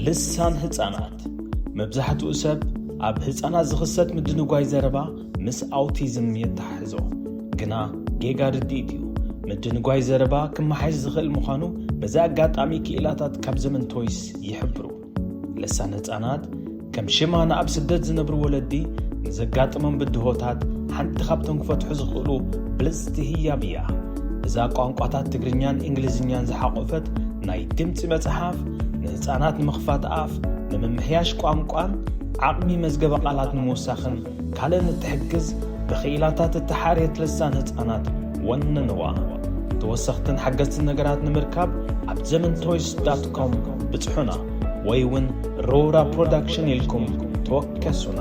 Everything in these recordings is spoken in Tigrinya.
ልሳን ህጻናት መብዛሕትኡ ሰብ ኣብ ህጻናት ዝኽሰት ምድንጓይ ዘረባ ምስ ኣውቲዝም የተሓሕዞ ግና ጌጋ ርድኢት እዩ። ምድንጓይ ዘረባ ክመሓየሽ ዝኽእል ምዃኑ በዚ ኣጋጣሚ ክኢላታት ካብ ዘመን ቶይስ ይሕብሩ። ልሳን ህጻናት ከም ሽማ ንኣብ ስደት ዝነብሩ ወለዲ ንዘጋጥሞም ብድሆታት ሓንቲ ካብቶም ክፈትሑ ዝኽእሉ ብልጽቲ ህያብ እያ። እዛ ቋንቋታት ትግርኛን እንግሊዝኛን ዝሓቖፈት ናይ ድምጺ መጽሓፍ፣ ንህጻናት ንምኽፋት ኣፍ፣ ንምምሕያሽ ቋንቋን ዓቕሚ መዝገበ ቃላት ንምውሳኽን ካልእን እትሕግዝ ብክኢላታት እተሓርየት ልሳን ህጻናት ወንንዋ። ተወሰኽትን ሓገዝትን ነገራት ንምርካብ ኣብ ዘመንቶይስ ዳት ኮም ብጽሑና ወይ ውን ሮውራ ፕሮዳክሽን ኢልኩም ተወከሱና።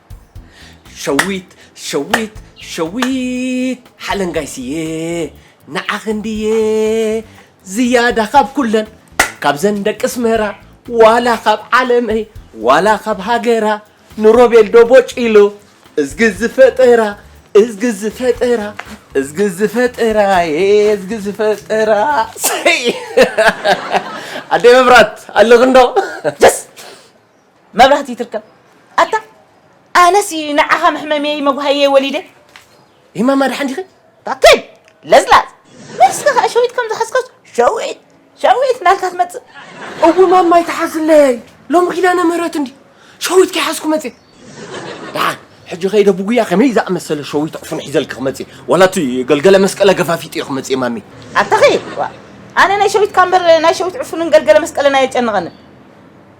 ሸዊት ሸዊት ሸዊት ሓለንጋይ ስየ ንዓኺ እንድየ ዝያዳ ካብ ኩለን ካብዘን ደቂ ኣስመራ ዋላ ካብ ዓለመይ ዋላ ካብ ሃገራ ንሮቤል ዶ ቦጪሎ እዝጊ ዝፈጠራ እዝጊ ዝፈጠራ እዝጊ ዝፈጠራ እዝጊ ዝፈጠራ ኣደይ መብራት ኣለኽንዶ መብራህቲ ትርከብ ኣታ ኣነሲ ንዓኻ መሕመምየይ መጉሃየይ ወሊደ ይማ ማድሓን ዲኺ ባከይ ለዝላዝ መልስካ ከዓ ሸዊት ከም ዝሓዝካስ ሸዊት ሸዊት ናልካ ትመፅእ እው ማማይ ተሓዝለይ ሎሚ ኪዳነ ምህረት እንዲ ሸዊት ከይሓዝኩ መፅእ ደሓን ሕጂ ከይደ ብጉያ ከመይ ዝኣመሰለ ሸዊት ዕፉን ሒዘልኪ ክመፅእ ዋላ እቲ ገልገለ መስቀለ ገፋፊጥ እየ ክመፅእ ማሚ ኣታኺ ኣነ ናይ ሸዊትካ እምበር ናይ ሸዊት ዕፉንን ገልገለ መስቀለን ኣየጨንቐንን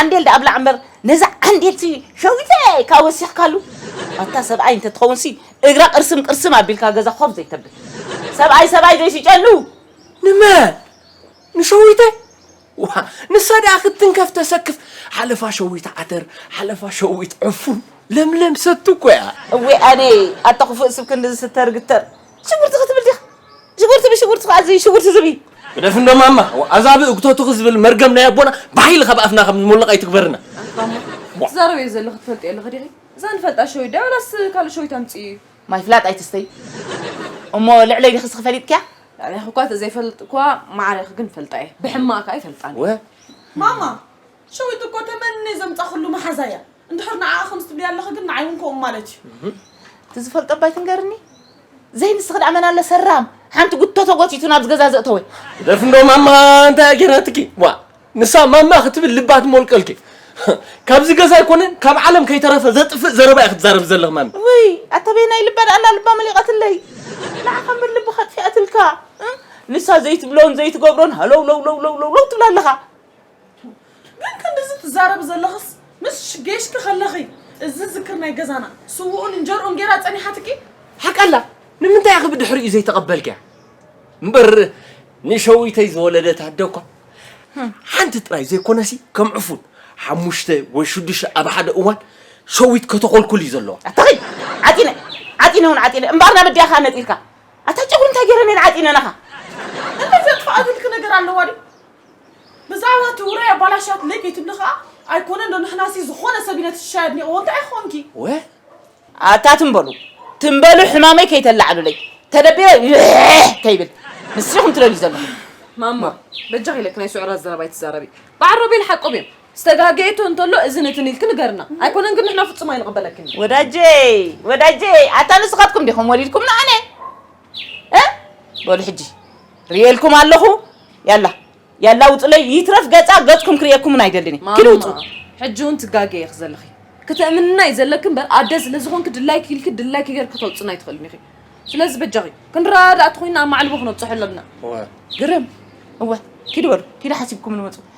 ዓንዴል ደኣ ብላዕ እምበር ነዛ ዓንዴልሲ ሸዊተ ኢልካ ወሲኽካሉ ኣታ ሰብኣይ እንተትኸውንሲ እግራ ቅርስም ቅርስም ኣቢልካ ገዛ ኾፍ ዘይተብል ሰብኣይ ሰብኣይ ዘይስጨሉ። ንመን ንሸዊተ ዋእ ንሳ ደኣ ክትትንከፍ ተሰክፍ ሓለፋ ሸዊት ዓተር ሓለፋ ሸዊት ዕፉን ለምለም ሰቲ እኮ እያ። እዌ ኣነ ኣታ ኩፍእ ስብ ክንድዚ ስተርግተር። ሽጉርቲ ክትብል ዲኻ? ሽጉርቲ ብሽጉርቲ ከኣ እዚ ሽጉርቲ ዝብኢ። ግደፍ እንዶ ማማ ኣዛ ብእግቶትኺ ዝብል መርገም ናይ ኣቦና ብሓይሊ ካብ ኣፍና ከም ዝሞልቕ ኣይትግበርና። ኣንታ እሞ ትዛረብዮ ዘለኺ ትፈልጥዮ ኣለኺ ዲኺ? እዛ ንፈልጣ ሸዊት ድያ ወላስ ካልእ ሸዊት ኣምጽእዮ እዩ? ማይ ፍላጥ ኣይትስተይ እሞ ልዕለይ ዲኺ እስኺ ፈሊጥክያ? ልዕሌኺ እኳ ተዘይፈልጥ እኳ ማዕሬኺ ግን እፈልጣ እየ ብሕማቕ ከኣ ኣይፈልጣን እየ። ማማ! ሸዊት እኮ ተመንየ ዘምጻኽሉ መሓዛ እያ እንድሕር ንዓኣ ከምዚ ትብልያ ኣለኺ ግን ንዓይ እውን ከምኡ ማለት እዩ እቲ ዝፈልጦ ኣባይ ትንገርኒ ዘይንስኺ ደኣ መን ኣለ ሰራም ሓንቲ ጉቶ ተጎቲቱ ናብዚ ገዛ ዘእተወ ደፍ እንዶ ማማ እንታይ እያ ጌራትኪ ዋ ንሳ ማማ ክትብል ልባ ትሞልቀልኪ ካብዚ ገዛ ኣይኮነን ካብ ዓለም ከይተረፈ ዘጥፍእ ዘረባ እዩ ክትዛረብ ዘለኽ ማሚ ወይ ኣተበይ ናይ ልባ ደኣላ ልባ መሊቐትለይ ንዓኻ እምበር ልቢ ከጥፊኣትልካ ንሳ ዘይትብሎን ዘይትገብሮን ሃለው ለው ለው ለው ለው ትብላ ኣለኻ ግን ክንድዚ ትዛረቢ ዘለኽስ ምስ ጌሽኪ ከለኺ እዚ ዝክር ናይ ገዛና ስውኡን እንጀርኡን ጌራ ጸኒሓትኪ ሓቀላ ንምንታይ ኢኺ ብድሕሪኡ ዘይተቐበልክያ እምበር ንሸዊተይ ዝወለደት ኣደ እኳ ሓንቲ ጥራይ ዘይኮነሲ ከም ዕፉን ሓሙሽተ ወይ ሽዱሽተ ኣብ ሓደ እዋን ሸዊት ከተኾልኩል እዩ ዘለዋ ኣታኸይ ዓጢነ ዓጢነ እውን ዓጢነ እምበኣር ናብ እዲያኻ ነጢርካ ኣታ ጨጉሪ እንታይ ገይረ ነን ዓጢነናኻ እንታይ ዘጥፍኣ ዝልኪ ነገር ኣለዋ ድዩ ብዛዕባ እቲ ውራይ ኣባላሽያት ለይ ከይትብሊ ከኣ ኣይኮነን ዶ ንሕናሲ ዝኾነ ሰብ ኢልና ትሽሻይ ኣድኒቕዎ እንታይ ክኾንኪ። ወ ኣታ ትም በሉ ትም በሉ ሕማመይ ከይተላዕሉለይ ተደቢረ ይሕሕ ከይብል ንሱ ኢኹም ትደልዩ ዘለኹም። ማማ በጃኺ ለክ ናይ ስዑራት ዘረባ ኣይትዛረቢ በዓል ሮቤል ሓቆም እዮም ዝተጋገየቶ እንተሎ እዝን እትን ኢልኪ ንገርና ኣይኮነን ግን ንሕና ፍጹም ኣይንቕበለክን ወዳጀይ ወዳጀይ ኣታ ንስኻትኩም ዲኹም ወሊድኩምና ኣነ በሉ ሕጂ ርእየልኩም ኣለኹ ያላ ያላ ውፅለይ ይትረፍ ገፃ ገፅኩም ክርእየኩምን ኣይደልን እየ ክዲ ውፁ ሕጂ እውን ትጋገየ ኢኺ ዘለኺ ክትእምንና እዩ ዘለኪ እምበር ኣደ ስለ ዝኾንኪ ድላይኪ ኢልኪ ድላይኪ ገይርኪ ክተውፅና ኣይትኽእልን ኢኺ ስለዚ በጃኺ ክንረዳዳእ ተኾይንና ኣብ ማዕልቦ ክነብፅሖ ኣለና ግርም እወ ኪዲ በሉ ኪዲ ሓሲብኩምን መፁ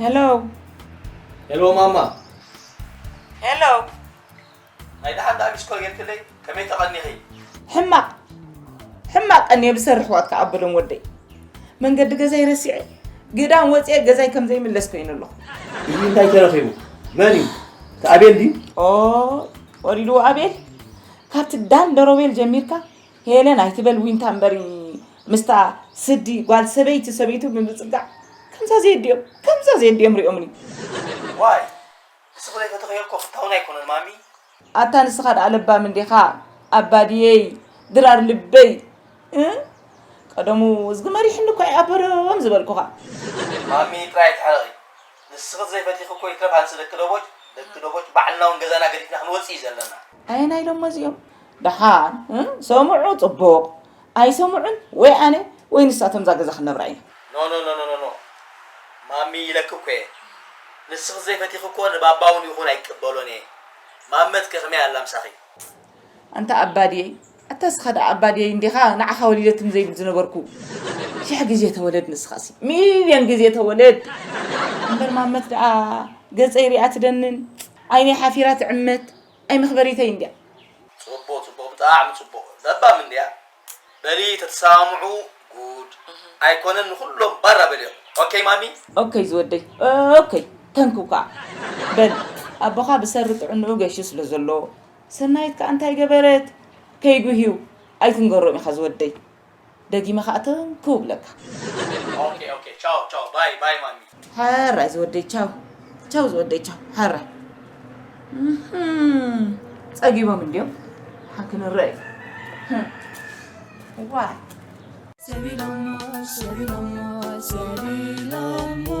Hello. Hello, Mama. Hello. ናይ ደሓን ዳኣቢ ስኮር ጌርክለይ ከመይ ተቐኒኺ ሕማቕ ሕማቕ ቀኒ ብሰር ኣሕዋት ክኣበሎም ወደይ መንገዲ ገዛይ ረሲዐ ግዳም ወፂአ ገዛይ ከም ዘይምለስ ኮይኑ ኣለኹ እዚ እንታይ ተረኺቡ መን እዩ ተኣቤል ድዩ ወሪድዎ ኣቤል ካብቲ ዳን ደሮቤል ጀሚርካ ሄለን ኣይትበል ዊንታ እምበሪ ምስታ ስዲ ጓል ሰበይቲ ሰበይቱ ብምፅጋዕ ከምዛ ዘየድዮም ከምዛ ዘየድዮም ሪኦምኒ ዋይ ንስኹ ዘይፈተኸዮ እኮ ፍታውን ኣይኮነን ማሚ ኣታ ንስኻ ደኣ ለባም እንዲኻ ኣባድየይ ድራር ልበይ ቀደሙ እዝጊ መሪሕኒ እኳ ይኣበሮም ዝበልኩኻ ማሚ ጥራይ ኣይትሕረቒ ንስኺ ዘይፈቲኺ እኮ ይትረፍ ኣንስ ደቂ ዶቦጭ ደቂ ዶቦጭ ባዕልና ውን ገዛና ገዲፍና ክንወጽእ እዩ ዘለና። ኣየናይ ዶሞ እዚኦም ደሓን ሰሙዑ ጽቡቅ ኣይሰሙዑን ወይ ኣነ ወይ ንሳ እተምዛ ገዛ ክንነብራ ኢና። ኖኖኖኖኖ ማሚ ኢለኪ እኮ እየ ንስኺ ዘይፈቲኺ እኮ ንባባ ውን ይኹን ኣይቅበሎን እየ ማመት ከ ከመይ ኣላ ምሳኺ። ኣንታ ኣባድየይ ኣታ እስኻ ደኣ ኣባድየይ እንዲኻ ንዓኻ ወሊደትኒ ዘይብል ዝነበርኩ ሽሕ ግዜ ተወለድ ንስኻሲ ሚልዮን ግዜ ተወለድ እምበር ማመት ደኣ ገጸይ ሪኣ ትደንን ዓይነይ ሓፊራ ትዕመት ኣይ መኽበሪተይ እንድያ። ጽቡቅ ጽቡቅ ብጣዕሚ ጽቡቅ ለባም እንድያ በሊ ተትሰማምዑ ጉድ ኣይኮነን ንኩሎም ባራ በልዮም ኦከይ ማሚ። ኦከይ ዝወደይ ኦከይ ተንክው ከኣ በል ኣቦኻ ብሰሪ ጥዕንኡ ገሹ ስለ ዘሎ ሰናይት ከኣ እንታይ ገበረት ከይጉህዩ ኣይትንገሮም ኢካ ዝወደይ ደጊመ ከኣ ትንክው እብለካ። ኦኬ ኦኬ ቻው ቻው ባይ ባይ ማሚ። ሐራይ ዝወደይ ቻው ቻው ዝወደይ ቻው ሐራይ እህም ጸጊቦም እንድዮም ሐ ክንረእ እዩ ህም ዋይ Sevilamos, sevilamos, sevilamos.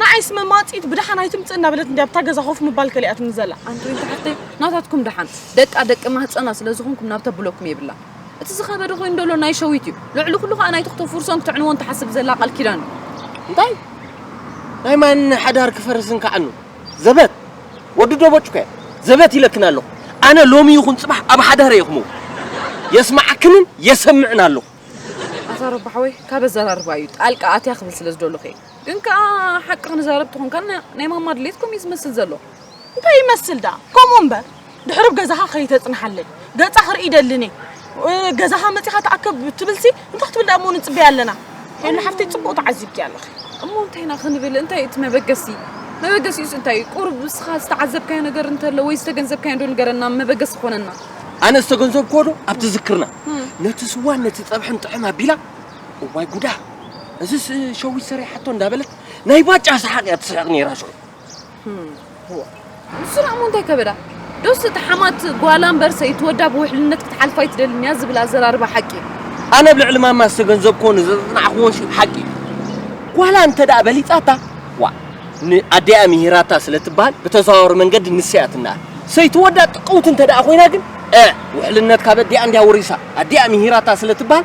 ንዓይ ስመማጺት ብደሓን ኣይትምጽእ እናበለት እንድያ ኣብታ ገዛ ኮፍ ምባል ከሊኣትኒ ዘላ። ኣንድሪን ተሓተይ ናታትኩም ደሓን ደቃ ደቂ ማህጸና ስለ ዝኾንኩም ናብ ተብለኩም የብላን። እቲ ዝኸበደ ኮይኑ ደሎ ናይ ሸዊት እዩ። ልዕሊ ኩሉ ከኣ ናይቲ ክተፍርሶን ክትዕንዎን ትሓስብ ዘላ ቃል ኪዳን እዩ። እንታይ ናይ ማን ሓዳር ክፈርስን ክዓኑ ዘበት ወዲ ዶቦጭ ኮያ ዘበት ኢለክን ኣለኹ ኣነ ሎሚ ይኹን ጽባሕ ኣብ ሓዳር እየ ክምው የስማዓክንን የሰምዕን ኣለኹ ኣታ ረባሕ ወይ ካብ ኣዘራርባ እዩ ጣልቃ ኣትያ ክብል ስለ ዝደለኹ እየ ግን ከኣ ሓቂ ክንዛረብ ተኾንካ ናይ ማማ ድሌት ከምኡ እዩ ዝመስል ዘሎ። እንታይ ይመስል ደኣ ከምኡ እምበር ድሕሪ ብ ገዛኻ ከይተጽንሓለይ ገጻ ክርኢ ደልኒ ገዛኻ መጺኻ ተኣከብ ትብልሲ እንታይ ክትብል ደኣ እሞ ንጽበያ ኣለና ሄሉ ሓፍተይ ጽቡቕ ተዓዚብኪ ኣለኺ እሞ እንታይ ኢና ክንብል እንታይ እዩ እቲ መበገሲ መበገሲኡስ እንታይ እዩ ቁሩብ ንስኻ ዝተዓዘብካዮ ነገር እንተሎ ወይ ዝተገንዘብካዮ ዶ ንገረና መበገሲ ክኾነና ኣነ ዝተገንዘብክዎ ዶ ኣብ ትዝክርና ነቲ ስዋን ነቲ ጸብሕን ጥዕም ኣቢላ እዋይ ጉዳ እዚስ ሸዊት ሰሪሓቶ እንዳበለት ናይ ባጫ ሰሓቅ እያ ትስሕቅ ነይራ ሽዑ ንስራ እሞ እንታይ ከበዳ ዶስ እቲ ሓማት ጓላ እምበር ሰይቲ ወዳ ብውሕልነት ክትሓልፋ ኣይትደልን እያ ዝብል ኣዘራርባ ሓቂ እዩ ኣነ ኣብ ልዕሊ ማማ ዝተገንዘብክዎ ንዘፅናዕክዎን ሲ ሓቂ እዩ ጓላ እንተ ደኣ በሊፃታ ዋ ንኣዲኣ ምሂራታ ስለ ትበሃል ብተዘዋወሪ መንገዲ ንሰያ ትነኣድ ሰይቲ ወዳ ጥቅውቲ እንተ ደኣ ኮይና ግን ውሕልነት ካብ ኣዲኣ እንድያ ወሪሳ ኣዲኣ ምሂራታ ስለ ትበሃል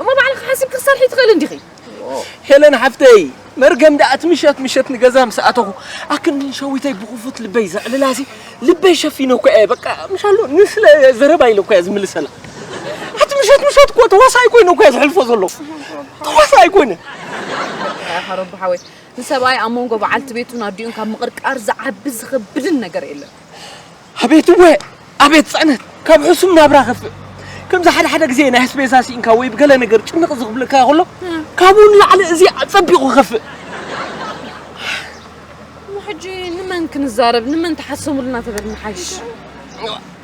እሞ ባዕልኺ ሓሲብኪ ክትሰርሒ ትኽእሊ እንዲኺ። ሄለን ሓፍተይ መርገም ደኣ እቲ ምሸት ምሸት ንገዛ ምስ ኣተኹ ኣክንዲ ንሸዊተይ ብኽፉት ልበይ ዘዕልላሲ ልበይ ሸፊነኳ እየ በቃ ምሻሉ ንስለ ዘረባ ኢለኳ እየ ዝምልሰላ ኣቲ ምሸት ምሸት እኮ ተዋሳኣይ ኮይነ እኳ ዝሕልፎ ዘለኹ ተዋሳኣይ ኮይነ ሓሮቦ ሓወይ ንሰብኣይ ኣብ መንጎ በዓልቲ ቤቱን ኣዲኡን ካብ ምቕርቃር ዝዓቢ ዝኸብድን ነገር የለን ኣቤት እወ ኣቤት ጽዕነት ካብ ሕሱም ናብራ ከፍእ ከምዚ ሓደ ሓደ ግዜ ናይ ኣስቤዛ ስኢንካ ወይ ብገለ ነገር ጭንቕ ዝኽብለካ ከሎ ካብኡ ንላዕሊ እዚ ኣጸቢቑ ከፍእ እሞ ሕጂ ንመን ክንዛረብ ንመን ተሓሰሙልና ተበል ንሓይሽ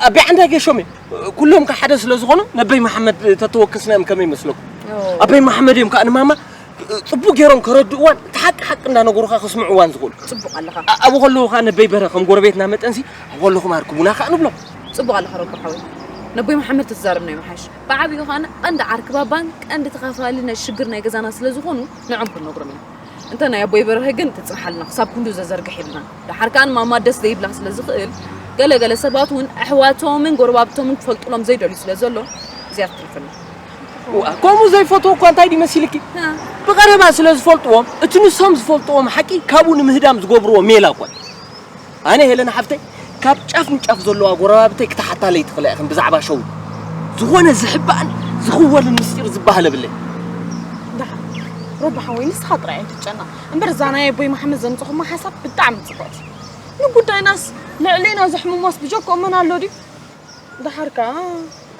ኣቤ ዓንዳ ጌሾም እዮም ኩሎም ከ ሓደ ስለ ዝኾኑ ነበይ መሓመድ ተተወከስናዮም ከመይ ይመስለኩም ኣቤ መሓመድ እዮም ከኣ ንማማ ጽቡቅ ጌሮም ከረድእዋን እቲ ሓቂ ሓቂ እንዳነገሩኻ ከስምዕዋን ዝኽእሉ ጽቡቅ ኣለኻ ኣ- ኣብኡ ከለዉ ከኣ ነበይ በረ ከም ጎረቤትና መጠንሲ ኣብኡ ከለኹም ኣርክቡና ከኣ ንብሎም ጽቡቅ ኣለኻ ረቡ ሓወይ ነቦይ መሓመድ ተትዛረብ ናይ ምሓሽ ብዓቢኡ ከኣ ቀንዲ ዓርኪ ባባን ቀንዲ ተኻፋሊ ናይ ሽግር ናይ ገዛና ስለ ዝኾኑ ንዖም ክንነግሮም ኢና እንተ ናይ ኣቦይ በርሀ ግን ትጽንሓልና ክሳብ ክንዱ ዘዘርግሕ የብልናን ደሓር ከኣ ማማ ደስ ዘይብላ ስለ ዝኽእል ገለ ገለ ሰባት እውን ኣሕዋቶምን ጎረባብቶምን ክፈልጡሎም ዘይደልዩ ስለ ዘሎ እዚኣ ትትርፈና ከምኡ ዘይፈትዎ እኳ እንታይ ድዩ መሲልኪ ብቐረባ ስለ ዝፈልጥዎም እቲ ንሶም ዝፈልጥዎም ሓቂ ካብኡ ንምህዳም ዝገብርዎ ሜላ እኳ እዩ ኣነ ሄለን ሓፍተይ ካብ ጫፍ ንጫፍ ዘለዋ ጎረባብተይ ክትሓታለይ ትኽእላ ኢኽን ብዛዕባ ሸው ዝኾነ ዝሕባእን ዝኽወልን ምስጢር ዝበሃል የብለይ ረብሓ ወይ ንስኻ ጥራይ ኣይትጨነቕ እምበር እዛ ናይ ኣቦይ መሓመድ ዘምፅኹማ ሓሳብ ብጣዕሚ ፅቡቕቲ ንጉዳይናስ ልዕሌና ዘሕምሞስ ብጀክኦ መን ኣሎ ድዩ ደሓር ከዓ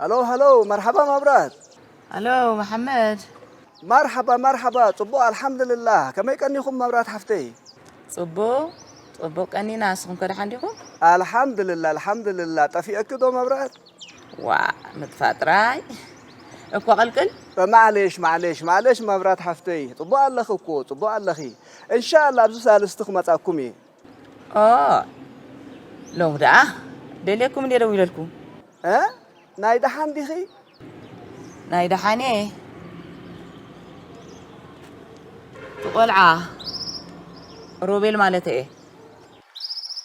ሃሎ ሃሎ መርሓባ መብራት ኣሎ መሓመድ መርሓባ መርሓባ ጽቡቕ ኣልሓምዱልላህ ከመይ ቀኒኹም መብራት ሓፍተይ ጽቡቕ ጽቡቕ ቀኒና ንስኹም ከ ደሓን ዲኹም ኣልሓምዱልላ ኣልሓምዱልላ ጠፊአኪ ዶ መብራት ዋእ ምጥፋእ ጥራይ እኮ ቅልቅል። ማዕሌሽ ማዕሌሽ ማዕሌሽ መብራት ሓፍተይ ጽቡቅ ኣለኺ እኮ ጽቡቅ ኣለኺ እንሻላ ኣብዚ ሳልስቲ ክመጻኩም እየ። ኦህ ሎሚ ደኣ ደልየኩም እንድየ ደዊለልኩም። እ ናይ ደሓን ዲኺ? ናይ ደሓን እየ እቲ ቆልዓ ሮቤል ማለተይ እየ።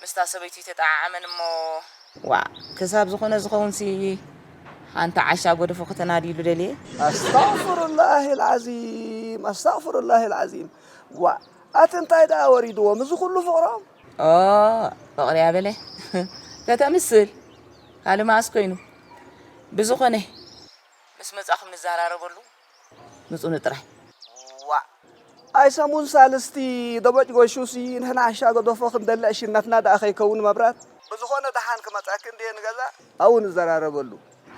ምስታ ሰበይቱ ኣይተጠዓዓመን እሞ። ዋእ ክሳብ ዝኮነ ዝከውን ሲ ሓንቲ ዓሻ ጎደፎ ከተናድይሉ ደልየ። ኣስታቅፍሩላሂ ልዓዚም ኣስታቅፍሩላሂ ልዓዚም ዋእ ኣቲ እንታይ ደኣ ወሪድዎም እዚ ኩሉ ፍቅሮም። ኦእ ፍቅሪ ኣበለ ከተምስል ካልእ መኣስ ኮይኑ ብዝኮነ ምስ መጻኩም ንዘራረበሉ። ምጹኒ ጥራይ። ዋእ ኣይ ሰሙን ሳልስቲ ደቦጭጎሹሲ ንሕና ሓሻ ገደፎ ክንደሊ ዕሽነትና ደኣ ከይከውን መብራት። ብዝኾነ ደሓን ክመጸኪ እንድየ ንገዛ ኣብኡ ንዘራረበሉ።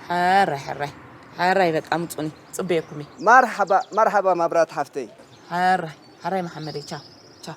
ሕራይ ሕራይ ሕራይ በቃ ምጹኒ ጽበየኩም እየ። መርሓባ መርሓባ መብራት ሓፍተይ። ሕራይ ሕራይ መሓመደይ ቻው ቻው።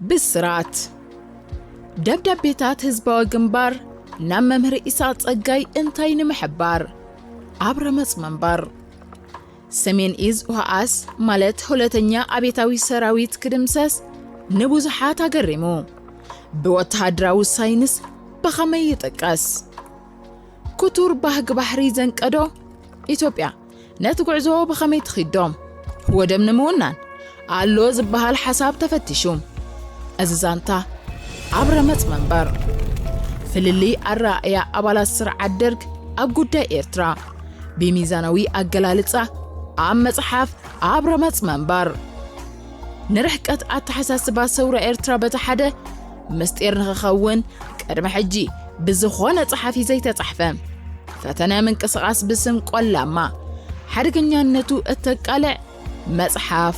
ብስራት ደብዳቤታት ህዝባዊ ግንባር ናብ መምህር ኢሳቕ ጸጋይ እንታይ ንምሕባር ኣብ ረመጽ ምንባር ሰሜን ኢዝ ውሃኣስ ማለት ሁለተኛ ኣቤታዊ ሰራዊት ክድምሰስ ንብዙሓት ኣገሪሙ ብወተሃደራዊ ሳይንስ ብኸመይ ይጥቀስ ኩቱር ባህጊ ባሕሪ ዘንቀዶ ኢትዮጵያ ነቲ ጉዕዞ ብኸመይ ትኺዶ? ወደብ ንምውናን ኣሎ ዝበሃል ሓሳብ ተፈቲሹ። እዚ ዛንታ ኣብ ረመጽ መንበር ፍልልይ ኣረኣእያ ኣባላት ስርዓት ደርግ ኣብ ጉዳይ ኤርትራ ብሚዛናዊ ኣገላልጻ ኣብ መጽሓፍ ኣብ ረመጽ መንበር ንርሕቀት ኣተሓሳስባ ሰውራ ኤርትራ በቲ ሓደ ምስጢር ንክኸውን ቅድሚ ሕጂ ብዝኾነ ጸሓፊ ዘይተጻሕፈ ፈተነ ምንቅስቓስ ብስም ቆላማ ሓደገኛነቱ እተቃልዕ መጽሓፍ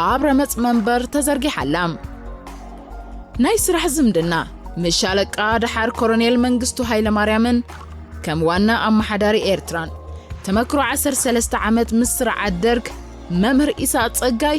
ኣብ ረመጽ መንበር ተዘርጊሓላ ናይ ስራሕ ዝምድና ምስ ሻለቃ ደሓር ኮሎኔል መንግስቱ ሃይለማርያምን ከም ዋና ኣመሓዳሪ ኤርትራን ተመክሮ 13 ዓመት ምስ ስርዓት ደርግ መምህር ኢሳቅ ጸጋይ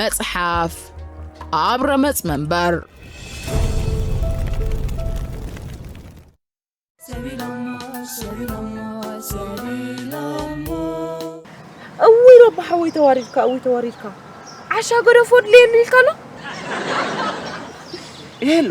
መጽሓፍ ኣብ ረመጽ መንበር እውይ ሮባ ሓወይ ተዋሪድካ እውይ ተዋሪድካ ዓሻ ገደፎ ድልየኒ ኢልካ ኣሎ ይህሉ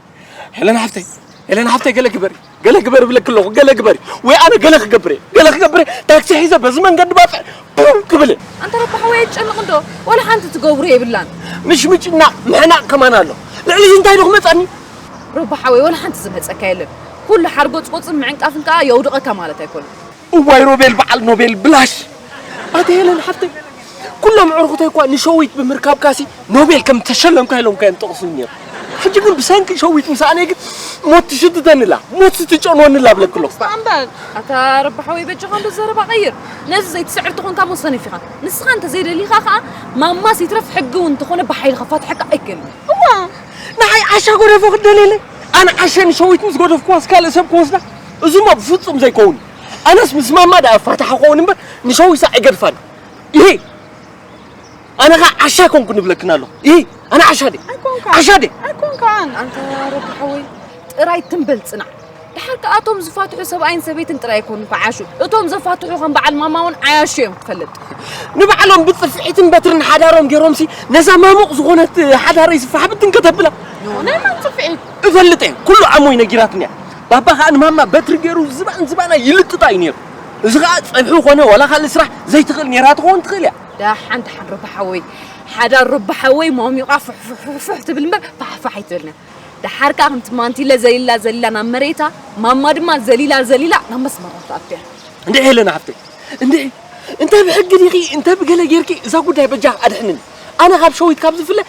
ሄለን ሓፍተይ ሄለን ሓፍተይ ገለ ግበሪ ገለ ግበሪ ብለኪ ኣለኹ ገለ ግበሪ ወይ ኣነ ገለ ክገብር እየ ገለ ክገብር ታክሲ ሒዘ በዚ መንገዲ ባፅዕ ቡም ክብል ኣንተ ረቢ ሓወይ ኣይትጨንቕ እንዶ ዋላ ሓንቲ ትገብሮ የብላን ምሽምጭና ምሕናቕ ከማን ኣሎ ልዕሊ እዚ እንታይ ዶ ክመፀኒ ረቢ ሓወይ ዋላ ሓንቲ ዝመፀካ የለን ኩሉ ሓርጎፅጎፅን ምዕንቃፍን ከዓ የውድቐካ ማለት ኣይኮነን እዋይ ሮቤል በዓል ኖቤል ብላሽ ኣቲ ሄለን ሓፍተይ ኩሎም ዕርኹተይ እኳ ንሸዊት ብምርካብካሲ ኖቤል ከም ተሸለምካ ኢሎም ከ ጠቕሱኒ ነይሩ ሕጂ ግን ብሰንኪ ሸዊት ምሳኣነይ ግን ሞት ትሽትተንላ ሞት ስትጨንወንላ ኣብለክ ኣለኹ እምበር ኣታ ረባሓወይ በጃኻ እንዶ ዘረባ ቀይር ነዚ ዘይትስዕር ተኾንካ እሞ ሰነፍ ኢኻ ንስኻ እንተ ዘይደሊኻ ከዓ ማማስ ይትረፍ ሕጊ እውን እንተኾነ ብሓይሊ ከፋትሐካ ኣይክእልን እዋ ንዓይ ዓሻ ጎደፎ ክደልየለይ ኣነ ዓሸ ንሸዊት ምስ ጎደፍኩዋስ ካልእ ሰብ ክወስዳ እዚሞ ብፍጹም ዘይኮውን እዩ ኣነስ ምስ ማማ ድኣ እፋታሕ እኸውን እምበር ንሸዊሳ ኣይገድፋን ኢሂ ኣነ ከኣ ዓሻ ኣይኮንኩን እብለክን ኣለኹ ኢሂ ኣነ ዓሻ ድየ ዓሻ ድየ ኣይኮንካን ኣንታ ረቢ ሓወይ ጥራይ ትም በል ጽናዕ ድሓር ከኣ እቶም ዝፋትሑ ሰብኣይን ሰበይትን ጥራይ ኣይኮኑ ክዓሹ እቶም ዘፋትሑ ከም በዓል ማማ እውን ዓያሹ እዮም ክትፈልጥ ንባዕሎም ብጽፍዒትን በትርን ሓዳሮም ገይሮምሲ ነዛ ማሙቕ ዝኾነት ሓዳረይ ዝፋሕብትን ከተብላ ናይ መን ጽፍዒት እፈልጥ እየ ኩሉ ዓሞይ ነጊራትኒ እያ ባባ ከኣ ንማማ በትሪ ጌሩ ዝባን ዝባና ይልጥጣ እዩ ኔሩ እዚ ከኣ ጸብሒ ኮነ ዋላ ካልእ ስራሕ ዘይትኽእል ኔራ ትኸውን ትኽእል እያ። ዳሓን ዳሓን ሩባ ሓወይ ሓዳር ሩባ ሓወይ ሞሚቓ ፉሕፉሕፉሕፉሕ ትብል እምበር ፋሕፋሕ ኣይትብልን ዳሓር ከኣ ከምቲ ማንቲለ ዘሊላ ዘሊላ ናብ መሬታ ማማ ድማ ዘሊላ ዘሊላ ናብ መስመራ ትኣቱያ። እንድዒ ሄለና ሓፍተይ እንድዒ እንተ ብሕጊ ዲኺ እንተ ብገለ ጌርኪ እዛ ጉዳይ በጃኺ ኣድሕንኒ ኣነ ካብ ሸዊት ካብ ዝፍለ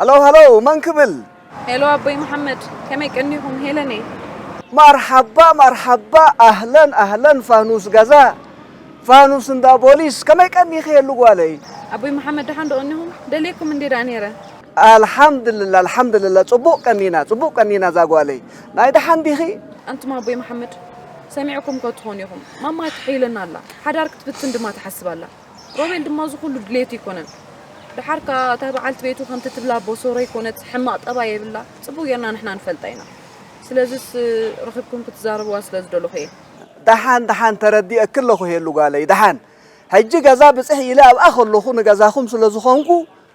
ሃሎ ሃሎ መን ክብል? ሄሎ ኣቦይ መሓመድ ከመይ ቀኒኹም? ሄለን እየ። ማርሓባ ማርሓባ ኣህለን ኣህለን ፋኑስ ጋዛ ፋኑስ እንዳ ቦሊስ ከመይ ቀኒኺ ሄሉ ጓለይ? ኣቦይ መሓመድ ደሓን ዶ ቀኒኹም? ደልየኩም እንዲየ ደኣ ነይረ። ኣልሓምድልላ ኣልሓምድልላ ጽቡቅ ቀኒና ጽቡቅ ቀኒና ዛጓለይ ናይ ደሓን ዲኺ። ኣንቱም ኣቦይ መሓመድ ሰሚዕኩም እኮ ትኾኑ ኢኹም ማማ ትሕይለና ኣላ ሓዳር ክትብትን ድማ ትሓስብ ኣላ ሮቤል ድማ እዚ ኩሉ ድሌቱ ኣይኮነን ደሓር ከኣ እታ በዓልቲ ቤቱ ከምቲ ትብላ ቦሶሮ ኣይኮነት ሕማቅ ጠባይ የብላ ጽቡቅ ጌርና ንሕና ንፈልጣ ኢና ስለዚስ ረኺብኩም ክትዛረብዋ ስለ ዝደለኹ እየ ደሓን ደሓን ተረዲኤኪ ኣለኹ ሄሉ ጓለይ ደሓን ሕጂ ገዛ ብጽሕ ኢለ ኣብኣ ከለኹ ንገዛኹም ስለ ዝኾንኩ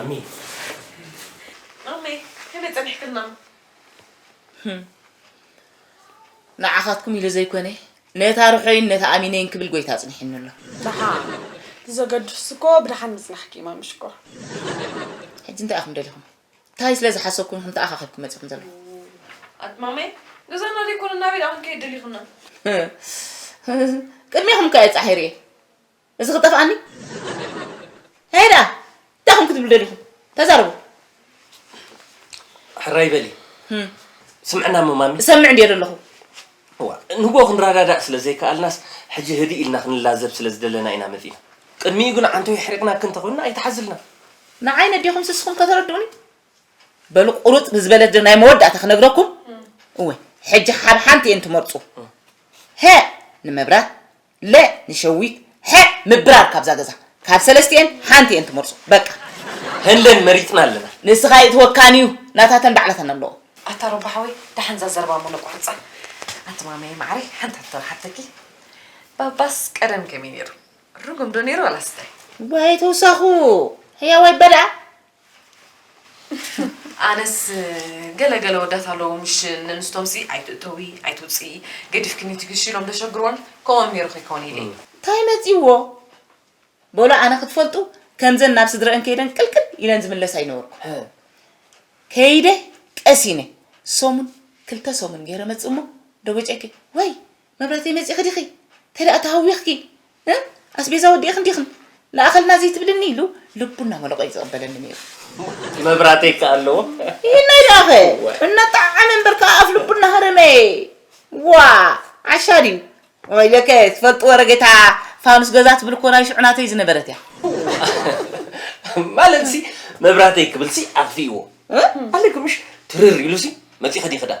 ኣሚ ኣመይ ከመይ ፀኒሕክና ንዓኻትኩም ኢሉ ዘይኮነ ነታ ርሖይን ነታ ኣሚነይን ክብል ጎይታ ኣፅኒሕኒ ኣሎ ድሓ እቲ ዘገድስ እኮ ብድሓን ምፅናሕኪ እዩ ማሚ ሽኮር ሕጂ እንታይ ኢኹም ደሊኹም ታይ ስለ ዝሓሰብኩም ኢኹም ተኣኻኺብኩም መጺኹም ዘለኹም? ኣድ ማሜ ገዛና ዘይኮነ ናበይ ደኣ ክንከይድ ደሊኹና? ቅድሜኹም እኮ እየ ጻሒሩ እየ እዚ ክጠፍኣኒ ታይ ደኣ እንታይ ኹም ክትብሉ ደሊኹም ተዛረቡ ሕራይ በሊ ስምዕና እሞ ማሜ እሰምዕ እንድየ ዘለኹ እዋ ንጎ ክንረዳዳእ ስለ ዘይከኣልናስ ሕጂ ህድእ ኢልና ክንላዘብ ስለ ዝደለና ኢና መጺና ቅድሚኡ ግን ዓንቶ የሕሪቕናኪ እንተኾንና ኣይትሓዝልና ንዓይ ነዴኹም ስስኹም ከተረድኡኒ በሉ ቁርጽ ብዝበለት ዶ ናይ መወዳእታ ክነግረኩም እወ ሕጂ ሓብ ሓንቲ እየን ትመርጹ ሀ ንመብራት ለ ንሸዊት ሐ ምብራር ካብዛ ገዛ ካብ ሰለስቲኤን ሓንቲ እየን ትመርጹ በቃ ህለን መሪጽና ኣለና ንስኻ ይእትወካን እዩ ናታተን ባዕላተን ኣለዎ ኣታ ሮባ ሓወይ ደሓን ዛዘረባ ሙሉ ቁርፃ ኣቲ ማመየ ማዕረይ ሓንቲ ሕቶ ሓተኪ ባባስ ቀደም ከመይ ነይሩ ርጉም ዶ ነይሩ ዋላስ እንታይ? ወይ ተውሳኹ ሕያዋይ በልዓ። ኣነስ ገለ ገለ ወዳት ኣለዎ ምሽ ነንስቶምሲ ኣይትእተዊ ኣይትውፅኢ ገዲፍክኒ ትግሽ ኢሎም ደሸግርወን ከምኦም ነይሩ ከይከውን ኢለ እየ። እንታይ መፂዎ በሉ ኣነ ክትፈልጡ ከምዘን ናብ ስድረአን ከይደን ቅልቅል ኢለን ዝምለሳ ይነበርኩ ከይደ ቀሲነ ሰሙን ክልተ ሰሙን ገይረ መፅእ እሞ ደቦጨኪ ወይ መብራተይ መፂእኺ ዲኺ እንተደኣ ተሃዊኽኪ ኣስቤዛ ወዲእኽን ዲኽን ለኣኸልና ዘይትብልኒ ኢሉ ልቡ እናመለቖ እዩ ዝቕበለኒ ነይሩ። መብራተይ ከ ኣለዎ ይህናይ ደኣኸ እናጣዓመ እምበር ከዓ ኣፍ ልቡ እናሃረመ ዋ ዓሻ ድዩ ወይለከ ትፈልጡ ወረጌታ ፋኑስ ገዛ ትብል እኮ ናይ ሽዑ ናተይ ዝነበረት እያ ማለት ሲ መብራተይ ክብል ሲ ኣጥፊእዎ ኣለግምሽ ትርር ኢሉ ሲ መፂእኺ ዲኺ ደኣ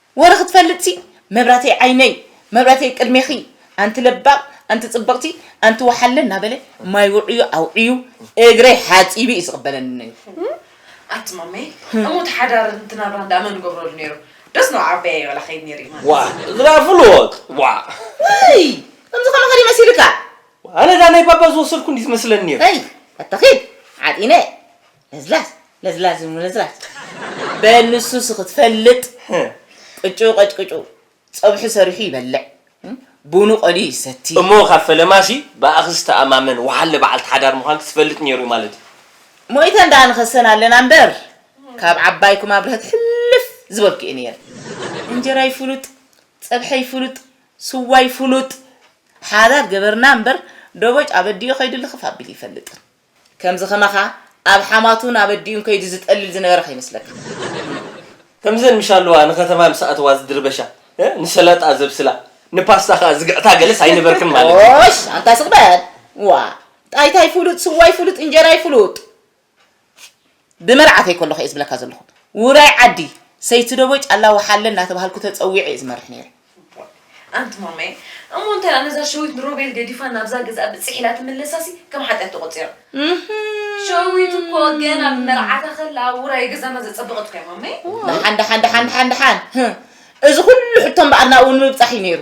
ወረ ክትፈልጥሲ መብራተይ ዓይነይ መብራተይ ቅድሜኺ ኣንቲ ለባም ኣንቲ ጽብቕቲ ኣንቲ ወሓለ እናበለ ማይ ውዕዩ ኣውዕዩ እግረይ ሓጺቡ እዩ ዝቕበለኒ ነይሩ። ኣቲ ማመይ እሞ እቲ ሓዳር እቲ ናብራ እንዳ መን ገብረሉ ነይሩ ደስ ን ዓበይ ኣይበላ ከይድ ነይሩ እዩ ማለት ዋእ እዝራ ፍሉጥ ዋእ። እይ ከምዚ ከማኻ ድዩ መሲልካ። ኣነ እዛ ናይ ባባ ዝወሰድኩ እንድዩ ዝመስለኒ ነይሩ። እይ ኣታ ኺድ ዓጢነ። ለዝላዝ ለዝላዝ ምልዝላዝ በል ንሱ ሲ ክትፈልጥ ቅጭው ቀጭቅጭው ፀብሑ ሰሪሑ ይበልዕ ቡኑ ቀልዩ ይሰቲ። እሞ ካብ ፈለማ ሲ ብኣኺ ዝተኣማመን ወሓለ በዓልቲ ሓዳር ምዃንኪ ዝፈልጥ ነይሩ እዩ ማለት እዩ። ሞይተን ደኣ ንኸሰን ኣለና እምበር ካብ ዓባይኩም ኣብርሀት ሕልፍ ዝበልኩ እየ ነይረ። እንጀራይ ፍሉጥ፣ ፀብሐይ ፍሉጥ፣ ስዋይ ፍሉጥ ሓዳር ገበርና እምበር ደቦጭ ኣበዲኡ ከይዱ ልኽፍ ኣቢሉ ኣይፈልጥን። ከምዚ ከማኻ ኣብ ሓማቱን ኣበዲኡን ከይዱ ዝጠልል ዝነበረ ከይመስለካ። ከምዘን ምሻልዋ ንከተማ ምስ ኣተዋ ዝድርበሻ ንሰላጣ ዘብስላ ንፓስታ ከኣ ዝግዕታ ገለስ ኣይነበርክን ማለት እዩ። ኦሽ ኣንታ ስቕ በል ዋእ ጣይታይ ፍሉጥ ስዋይ ፍሉጥ እንጀራይ ፍሉጥ። ብመርዓተይ ከለኹ'የ ዝብለካ ዘለኹ። ውራይ ዓዲ፣ ሰይቲ ደቦይ ጫላ ወሓለ እናተባሃልኩ ተጸዊዔ'የ ዝመርሕ ነይረ። ኣንቲ ማማየ፣ እሞ እንታይ ደኣ ነዛ ሸዊት ንሮቤል ገዲፋ ናብዛ ገዝኣ ብጽሕ ኢላ ትምለሳ'ሲ ከም ሓጢኣት ተቖጺራ። ሸዊት እኮ ገና ብመርዓታ ከላ ውራይ ገዛና ዘጸበቐት እኮ'ያ ማማየ። ደሓን ደሓን ደሓን ደሓን ደሓን፣ እዚ ኩሉ ሕቶ እምበኣር ናብኡ ንምብጻሕ'ዩ ነይሩ።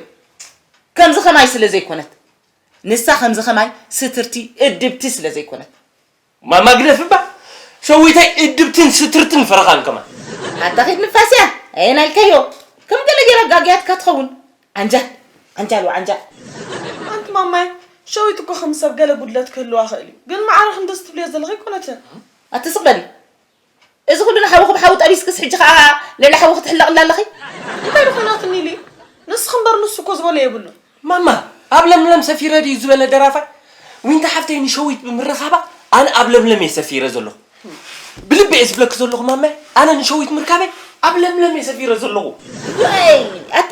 ከምዚ ከማይ ስለ ዘይኮነት፣ ንሳ ከምዚ ከማይ ስትርቲ፣ እድብቲ ስለ ዘይኮነት። እማ ማግነፍ እባ ሸዊታይ እድብትን ስትርትን ፈረኻን ከማን። ኣታ ኺድ ንፋስ እያ ኣየናይ ኢልካዮ ከም ገለ ጌራ ኣጋግያትካ ትኸውን ዓንጃል ዓንጃል ወዓንጃል። ኣንቲ ማማይ ሸዊት እኮ ከም ሰብ ገለ ጉድለት ክህልዋ ይኽእል እዩ ግን ማዕረ ክንዲ እዚ ትብልዮ ዘለኺ ኣይኮነትን። ኣቲ ስቅ በሊ እዚ ኩሉ ንሓዊ ክብ ሓዊ ጠቢስክስ ሕጂ ከኣ ልዕሊ ሓዊ ክትሕለቕላ ኣለኺ። እንታይ ድኾን ኣቲ ሚሊ ንስኺ እምበር ንሱ እኮ ዝበሎ የብሉን። ማማ ኣብ ለምለም ሰፊረ ድዩ ዝበለ ደራፋይ? ዊንታ ሓፍተይ ንሸዊት ብምርኻባ ኣነ ኣብ ለምለም እየ ሰፊረ ዘለኹ። ብልቢ እየ ዝብለኪ ዘለኹ ማማየ ኣነ ንሸዊት ምርካበይ ኣብ ለምለም እየ ሰፊረ ዘለኹ። ዋይ ኣታ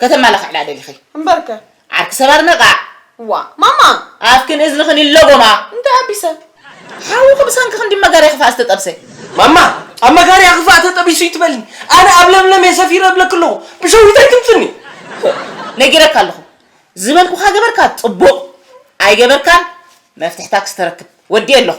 ከተማላኽዕላ ደሊኺ? እምበርከ! ዓርኪ ሰብ ኣድነቓዕ! ዋእ! ማማ! ኣፍክን እዝንኽን ይለጎማ! እንታይ ኣቢሰ? ሓውኺ ብሰንኪ ክንዲ መጋርያ ክፋእ ዝተጠብሰ! ማማ! ኣብ መጋርያ ክፋእ ተጠቢሱ እይትበልኒ! ኣነ ኣብ ለምለም እየ ሰፊረ እብለኪ ኣለኹ! ብሸዊት ኣይትምፅኒ! ፎእ! ነጊረካ ኣለኹ! ዝበልኩኻ ገበርካ ፅቡቕ! ኣይገበርካን መፍትሕታ ክስተረክብ ወዲኤ ኣለኹ!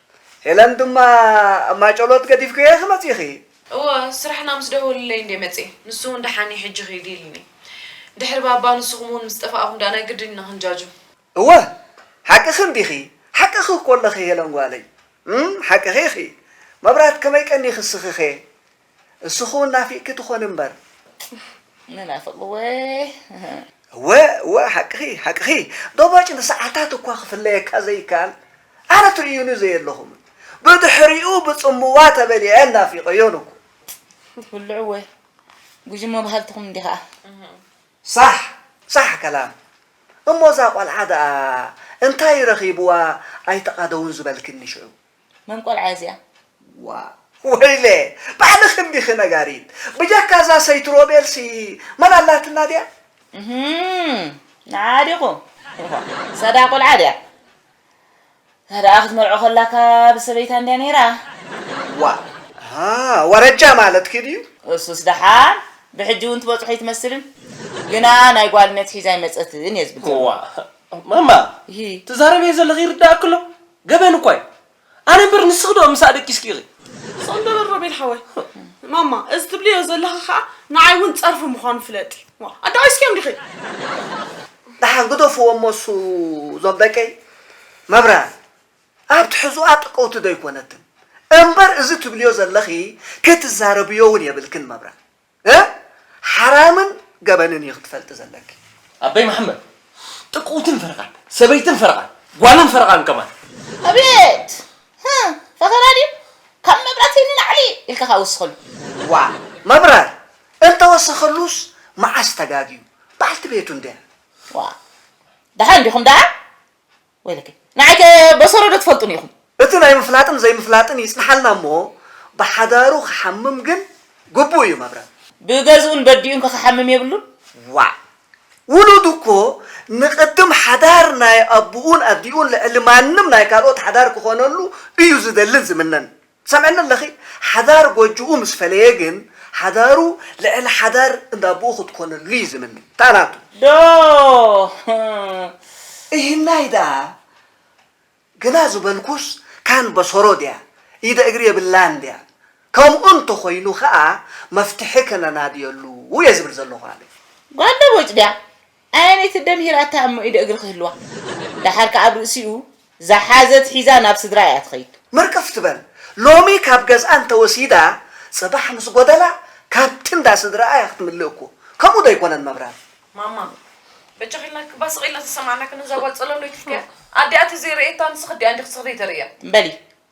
ሄለን ድማ ኣብ ማጨሎት ገዲፍክየ ክመጽእ ኢኺ? እወ፣ ስራሕና ምስ ደወሉለይ እንድየ መጺኤ። ንሱ'ውን ደሓን'ዩ ሕጂ ኺዲ ኢሉኒ። ድሕሪ ባባ ንስኹም'ውን ምስ ጠፋእኹም ደኣ ናይ ግድን ኢና ክንጃጁ። እወ፣ ሓቅኺ እንዲኺ፣ ሓቅኺ እኮ ኣለኺ ሄለን ጓለይ። እም፣ ሓቅኺ ኢኺ። መብራት ከመይ ቀኒኺ እስኺኸ? እስኹ እውን ናፊቅኪ ትኾኒ እምበር። ንናፍቅ እወ። እወ እወ ሓቅኺ ሓቅኺ ዶቦጭ ንሰዓታት እኳ ክፍለየካ ዘይከኣል ኣነ ትርእዩኒ ዘየለኹምን ብድሕሪኡ ብጽምዋ ተበሊዐ ናፊቀዮን እኮ። ትብልዑ እወ ጉጅሞ በሃልትኹም እንዲኺ ከኣ። ሳሕ ሳሕ ከላም እሞ እዛ ቆልዓ ደኣ እንታይ ረኺብዋ ኣይተቓደውን ዝበልክኒ ሽዑ። መን ቆልዓ እያ እዚኣ? ዋእ ወይለ ባዕልኺ እንዲኺ ነጋሪት ብጀካ እዛ ሰይቲ ሮቤልሲ መን ኣላትና ድያ? እህም ንዓኣ ዲኹም ዋእ ሰዳ ቆልዓ ድያ ሰዳኣ ክትመርዖ ከላ ካብ ሰበይታ እንድያ ነይራ። ዋእ ኣሃ ወረጃ ማለትኪ ድዩ? እሱስ ደሓን ብሕጂ እውን ትበፅሖ ኣይትመስልን ግና ናይ ጓልነት ሒዛ ኣይመፀትን እየ ዝብል ዘለኹ። ዋእ ማማ እሂ ትዛረብዮ ዘለኺ ይርደኣኪ ኣሎ? ገበን እኳ እዩ ኣነ እምበር ንስኺ ዶ ምሳኣ ደቂስኪ ኢኺ። ስቕ ንበል ሮቤል ሓወይ። ማማ እዚ ትብልዮ ዘለኺ ከኣ ንዓይ እውን ጸርፊ ምዃኑ ፍለጢ። ዋእ ኣዳቒስክዮም ዲኺ? ደሓን ግደፍዎ እሞ እሱ እዞም ደቀይ መብራህቲ ኣብ ትሕዝኣ ጥቅውቲ ዶ ኣይኮነትን። እምበር እዚ ትብልዮ ዘለኺ ክትዛረብዮ እውን የብልክን መብራህቲ። እ ሓራምን ገበንን እዩ ክትፈልጢ ዘለኪ። ኣበይ መሓመድ ጥቅውትን ፈረቃን ሰበይትን ፈረቃን ጓልን ፈረቃን ከማን። ኣቤት ህ ፈተና ድዩ ካብ መብራትይ ንላዕሊ ኢልካ ከኣ ወስኸሉ። ዋእ መብራር እንተወሰኸሉስ መዓስ ተጋግዩ በዓልቲ ቤቱ እንድያ። ዋእ ደሓን ዲኹም ደኣ? ወይለከይ ንዓይ ከ በሰሮ ዶ ትፈልጡኒ ኢኹም። እቲ ናይ ምፍላጥን ዘይምፍላጥን ይጽንሓልና እሞ ብሓዳሩ ክሓምም ግን ግቡእ እዩ መብረም። ብገዝኡን በዲኡን ከ ክሓምም የብሉን። ዋእ ውሉድ እኮ ንቅድም ሓዳር ናይ ኣቡኡን ኣዲኡን ልዕሊ ማንም ናይ ካልኦት ሓዳር ክኾነሉ እዩ ዝደልን ዝምነን። ትሰምዕኒ ኣለኺ? ሓዳር ጎጆኡ ምስ ፈለየ ግን ሓዳሩ ልዕሊ ሓዳር እንዳ ኣቦኡ ክትኮነሉ እዩ ዝምነ። እታ ናቱ። ዶ እሂናይ ደኣ ግና ዝበልኩስ ካን በሰሮ ድያ ኢደ እግሪ የብላን ድያ? ከምኡ እንተ ኾይኑ ከኣ መፍትሒ ከነናድየሉ እየ ዝብል ዘለኹ ኣነ። ጓል ደቦጭ ድያ? ኣየነይቲ ኣደምሂራታ እሞ ኢደ እግሪ ክህልዋ ዳሓር ካኣ ኣብ ርእሲኡ ዛሓዘት ሒዛ ናብ ስድራ ኢያ ትኸይድ። ምርቅፍ ትበል ሎሚ ካብ ገዝኣ እንተወሲዳ ጽባሕ ምስ ጎደላ ካብቲ እንዳ ስድራኣ ኢያ ክትምልእ እኮ ከምኡ ዶ ኣይኮነን መብራን። ማማ በጃኺ ኢልና እባ ስቕ ኢልና ዝሰማዕናክን እዛ ጓል ጸለሎይት እልካያ ኣዲኣ ተዘይ ረኤታ ንስኺ ኣዲኣ እንዲኺ ስኽሪ ተርእያ። በሊ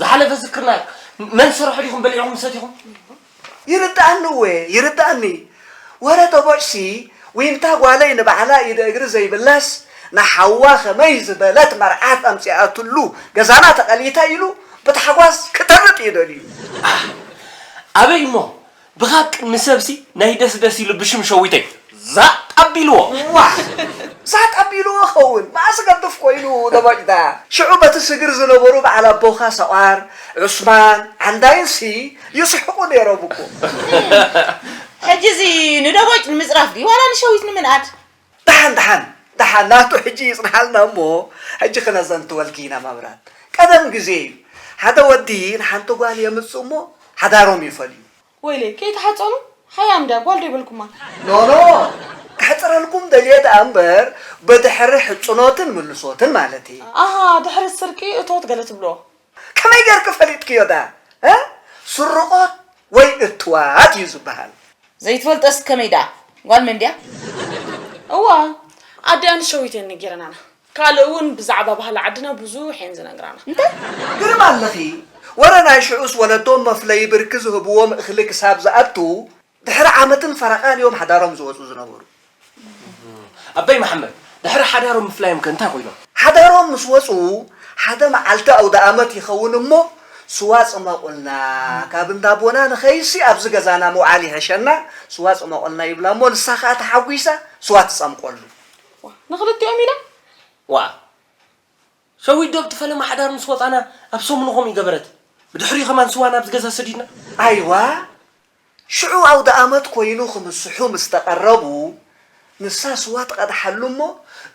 ዝሓለፈ ዝክርና እዩ መን ሰረሖ ዲኹም በሊዕኹም ሰቲኹም ይርዳኣኒ እወ ይርዳኣኒ ወረ ተቦጭሲ ዊንታ ጓለይ ንባዕላ ኢደ እግሪ ዘይብላስ ንሓዋ ከመይ ዝበለት መርዓት ኣምጺኣትሉ ገዛና ተቐሊታ ኢሉ ብታሕጓስ ክተርብ እዩ ደልዩ። ኣሕ ኣበይ እሞ ብሃቂ ንሰብሲ ናይ ደስ ደስ ኢሉ ብሽም ሸዊተይ ዛጥ ኣቢልዎ። ዋእ ዛጥ ኣቢልዎ ክኸውን መኣስ ገድፍ ኮይኑ ተባጭታ። ሽዑ በቲ ስግር ዝነበሩ በዓል ኣቦኻ ሰቋር፣ ዑስማን፣ ዓንዳይን ሲ ይስሕቁ ኔሮም እኮ። ሕጂ እዚ ንደቦጭ ንምጽራፍ ድዩ ዋላ ንሸዊት ንምንኣድ? ደሓን ደሓን ደሓን ናቱ ሕጂ ይጽንሓልና እሞ ሕጂ ክነዘንትወልኪ ኢና መብራት ቀደም ግዜ እዩ ሓደ ወዲ ንሓንቲ ጓል የምጽ እሞ ሓዳሮም ይፈልዩ። ወይለይ ከይትሓጸኑ ሓያም ድያ ጓል ዶ ይበልኩማ። ኖኖ ከሕጽረልኩም ደልየ ደኣ እምበር ብድሕሪ ሕጽኖትን ምልሶትን ማለት እየ። ኣሃ ድሕሪ ስርቂ እቶት ገለ ትብልዎ። ከመይ ገርኪ ፈሊጥክዮ ዳኣ እ ስርቆት ወይ እትዋት እዩ ዝባሃል። ዘይትፈልጦስ ከመይ ደኣ ጓል መን ድያ? እወ ኣዲኣን ሸዊት እየን ነጊረናና ካልእ እውን ብዛዕባ ባህሊ ዓድና ብዙሕ እየን ዝነግራና። እንታይ? ግርም ኣለኺ ወረ ናይ ሽዑስ ወለዶ መፍለዪ ብርኪ ዝህብዎም እኽሊ ክሳብ ዝኣቱ ድሕሪ ዓመትን ፈረቓን እዮም ሓዳሮም ዝወፁ ዝነበሩ። ኣባይ መሓመድ፣ ድሕሪ ሓዳሮም ምፍላዮም ከ እንታይ ኮይኖም? ሓዳሮም ምስ ወፁ ሓደ መዓልቲ ኣውደኣመት ይኸውን እሞ ስዋ ፅመቑልና፣ ካብ እንዳ ኣቦና ንኸይድሲ ኣብዚ ገዛና ምውዓል ይሀሸና፣ ስዋ ፅመቑልና ይብላ እሞ ንሳ ከዓ ተሓጒሳ ስዋ ትፀምቆሉ። ንኽልቲኦም ኢላ? ዋእ! ሸዊት ዶብ ትፈለማ ሓዳር ምስ ወጻና ኣብ ሰሙኑ ከምኡ ገበረት ብድሕሪኡ ከማን ስዋ ናብዚ ገዛ ሰዲድና። ኣይዋ ሽዑ ኣውደኣመት ኮይኑ ክምስሑ ምስ ተቐረቡ ንሳ ስዋ ትቐድሓሉ እሞ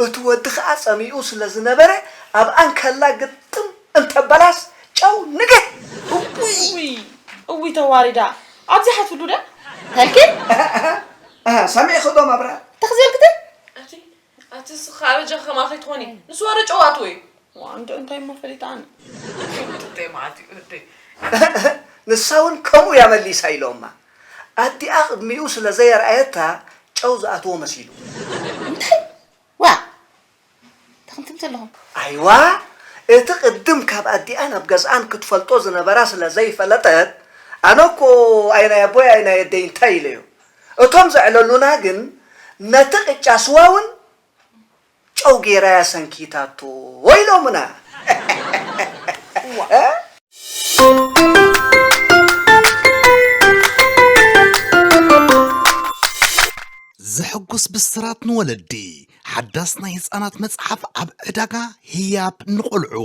እቲ ወዲ ከኣ ጸሚኡ ስለ ዝነበረ ኣብኣ እንከላ ግጥም እንተበላስ ጨው ንግህ እውይ እውይ ተዋሪዳ ኣብዚሓትሉ ድያ ተልክል። ኣሃ ኣሃ ሰሚዕኺ ዶ መብራት። ተኽዘልክትን። ኣቲ ኣቲ ስኻ ኣበጃ ከማኺ ትኾኒ ንሱ ኣረ ጨዋቱ እዩ ዋንዶ እንታይ እሞ ፈሊጣ ኣነ ጥተይ መዓት እዩ እደይ ንሳ እውን ከምኡ እያ መሊሳ ኢሎማ ኣዲኣ ቅድሚኡ ስለ ዘየርኣየታ ጨው ዝኣትዎ መሲሉ እንታይ ዋ ተኽንትም ዘለኹም ኣይዋ እቲ ቅድም ካብ ኣዲኣን ኣብ ገዝኣን ክትፈልጦ ዝነበራ ስለ ዘይፈለጠት ኣነ እኮ ኣይ ናይ ኣቦይ ኣይ ናይ ኣደይ እንታይ ኢለዮ እቶም ዘዕለሉና ግን ነቲ ቅጫ ስዋ ውን ጨው ገይራ'ያ ሰንኪታቶ ኢሎምና። እዋእ! ዘሕጉስ ብስራት ንወለዲ! ሓዳስ ናይ ህጻናት መጽሓፍ ኣብ ዕዳጋ ህያብ ንቖልዑ!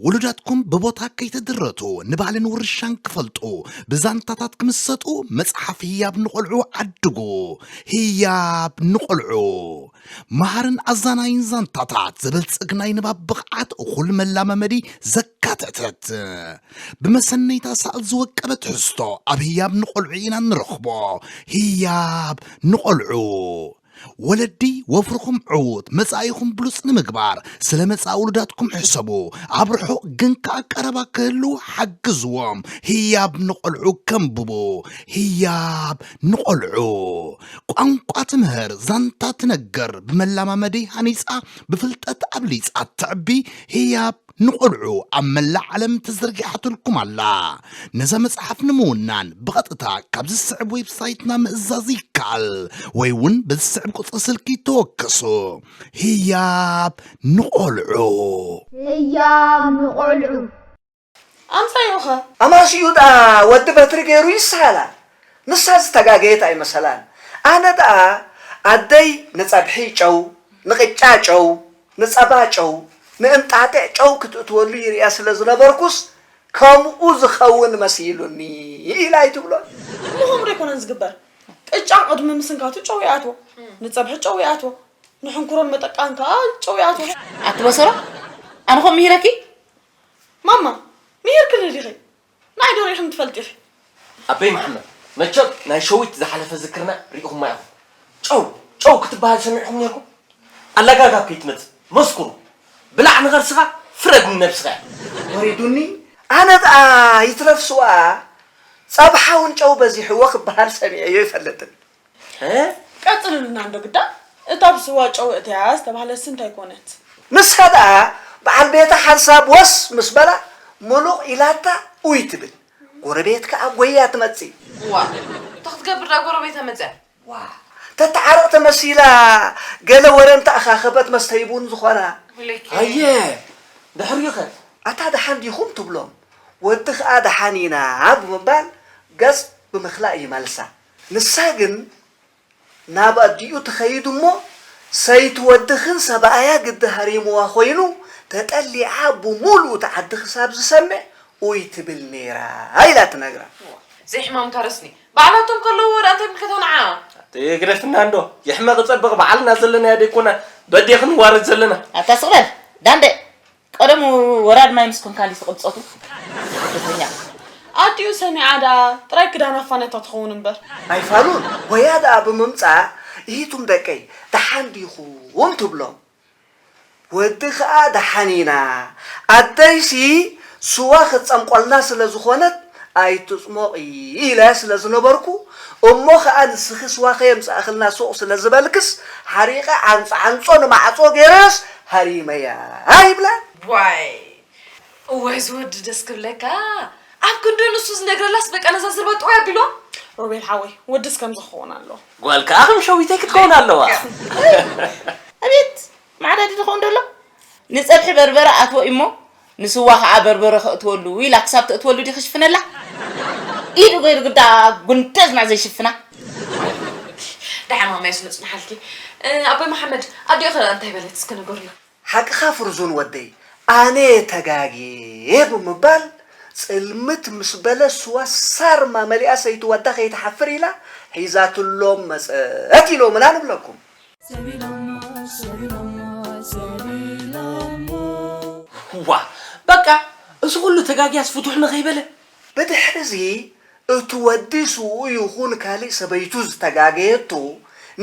ውሉዳትኩም ብቦታ ከይተድረቱ ንባህልን ውርሻን ክፈልጡ ብዛንታታት ክምሰጡ መጽሓፍ ህያብ ንቆልዑ ዓድጉ። ህያብ ንቆልዑ መሃርን ኣዛናይን ዛንታታት ዘበልጽግ ናይ ንባብ ብቕዓት እኹል መላመመዲ ዘካተተት ብመሰነይታ ሳእል ዝወቀበ ትሕዝቶ ኣብ ህያብ ንቆልዑ ኢና ንረኽቦ። ህያብ ንቆልዑ ወለዲ ወፍርኹም ዕዉት መጻኢኹም ብሉጽ ንምግባር ስለ መጻኢ ውሉዳትኩም ሕሰቡ። ኣብ ርሑቕ ግን ከኣ ቀረባ ክህልዉ ሓግዝዎም። ህያብ ንቖልዑ ከንብቡ። ህያብ ንቖልዑ ቋንቋ ትምህር፣ ዛንታ ትነግር፣ ብመላማመዲ ሃኒጻ፣ ብፍልጠት ኣብሊጻ ተዕቢ ህያብ ንቆልዑ ኣብ መላእ ዓለም ተዘርጊሓትልኩም ኣላ። ነዛ መጽሓፍ ንምውናን ብቐጥታ ካብዚ ዝስዕብ ዌብሳይትና ምእዛዝ ይከኣል ወይ እውን በዚ ዝስዕብ ቁጽሪ ስልኪ ተወከሱ። ህያብ ንቆልዑ! ህያብ ንቆልዑ! ኣምጻዩ'ኸ? ኣማስይኡ ደኣ ወዲ በትሪ ገይሩ ይሰሃላ ንሳ ዝተጋገየት ኣይመሰላን ኣነ ደኣ ኣደይ ንጸብሒ ጨው ንቅጫ ጨው ንጸባ ጨው፣ ንእንጣጢዕ ጨው ክትእትወሉ ይርእያ ስለ ዝነበርኩስ ከምኡ ዝኸውን መሲሉኒ ኢላ ኣይትብሎን። እሞ ከምኡ ዶ ኣይኮነን ዝግበር? ቅጫ ቅድሚ ምስንካቱ ጨው ይኣትዎ፣ ንጸብሒ ጨው ይኣትዎ፣ ንሕንኩሮን መጠቃን ከኣ ጨው ይኣትዎ። ኣቲ በሰሮ ኣነ ከምኡ ምሂረኪ? ማማ ምሂርክኒ ዲኺ? ንዓይ ዶ ሪኢኽኒ ትፈልጢ ኢኺ? ኣበይ መሓመድ መቸም ናይ ሸዊት ዝሓለፈ ዝክርና ሪኢኹማ ኢኹም ጨው ጨው ክትበሃል ሰሚዕኹም ኔርኩም ኣለጋጋብ ከይትመጽእ መስኩሩ ብላዕ ንኸርስኻ ፍረድ ንነብስኻ ኢያ ወሪዱኒ ኣነ ድኣ ይትረፍ ስዋ ጸብሓ ውን ጨው በዚሕዎ ክበሃል ሰሚዐዮ ኣይፈልጥን ቀፅልልና እንዶ ግዳ እታ ብስዋ ጨው እትያ ዝተባህለትሲ እንታይ ኮነት? ንሳ ደኣ በዓል ቤታ ሓንሳብ ወስ ምስ በላ ምሉቕ ኢላታ ኡይ ትብል፣ ጎረቤት ከኣ ጎይያ ትመጽእ። ዋእ እንታይ ክትገብር ደኣ ጎረቤታ መጺኣ? ዋእ ተተዓርቕ ተመሲላ ገለ ወረ እንተኣኻኸበት መስተዪ ቡን ዝኾና። ኣየ ድሕሪኡኸ? ኣታ ደሓን ዲኹም ትብሎም፣ ወዲ ከኣ ደሓን ኢና ብምባል ገጽ ብምክላእ ይመልሳ። ንሳ ግን ናብ ኣዲኡ ትኸይድ እሞ ሰይቲ ወድኽን ሰባኣያ ግዲ ሃሪምዋ ኮይኑ ተጠሊዓ ብሙሉኡ እቲ ዓዲ ክሳብ ዝሰምዕ ኡይ ትብል ነይራ ኢላ ትነግራ። ዘይሕማም ታረስኒ ባዕላቶም ከለውዎ ድኣ እንታይ ምልከታ ንዓ። ኣቲ ግደፍና እንዶ የሕመቂ ጸብቅ ባዓልና ዘለናዮ ደይኮና በዴኪ ንዋረድ ዘለና። ኣታ ስቅ በል ዳንደ ቀደሙ ወራድ ማይ ምስ ኮንካ እንዲስ ትቕብጸቱ ስደተኛ። ኣዲኡ ሰሚዓ ደኣ ጥራይ ክዳን ኣፋነታ ትኸውን እምበር። ናይ ፋሉል ሆያ ደኣ ብምምጻእ እሂቱም ደቀይ ደሓን ዲኹም ትብሎም ወዲ ከኣ ደሓን ኢና ኣደይሲ ስዋ ክትጸምቆልና ስለ ዝኾነት ኣይትጽሞቒ ኢለያ ስለ ዝነበርኩ እሞ ኸኣ ንስኺ ስዋ ከየምጻእክልና ሱቕ ስለ ዝበልክስ ሓሪቐ ዓንጾ ዓንጾ ንማዕጾ ገይረስ ሃሪመያ ይብላ። ዋይ እወ እዚ ወዲ ደስ ክብለካ ኣብ ክንዲ ንሱ ዝነግረላስ በቃ ነዛ ዝርባ ጥውይ ኣቢልዋ። ሮቤል ሓወይ ወድስ ከምዚ ክኸውን ኣለዎ። ጓል ከኣ ከም ሸዊተይ ክትከውን ኣለዋ። ኣቤት መዓዳዲ ድኾን ደሎ ንጸብሒ በርበረ ኣትዎ'ሞ ንስዋ ከኣ በርበረ ከእትወሉ ኢላ ክሳብ ተእትወሉ ድዩ ክሽፍነላ ኢዱ ገይሩ ግዳ ጉንደዝ መዕ ዘይሽፍና። ደሓን ማማይስ ምጽንሓልኪ። ኣቦይ መሓመድ ኣዲኡ ከ እንታይ በለት እስከ ንገርዮ። ሓቅኻ ፍርዙን ወደይ ኣነየ ተጋግየ ብምባል ጽልምት ምስ በለ ስዋ ሳርማ መሊኣ ሰይቲ ዋዳ ከይትሓፍር ኢላ ሒዛትሎም መጸት ኢሎምና ንብለኩም። ዋእ በቃ እዚ ኩሉ ተጋግያስ ፍቱሕ ንከይበለ። ብድሕሪ'ዚ እቲ ወዲ ስውኡ ይኹን ካልእ ሰበይቱ ዝተጋገየቶ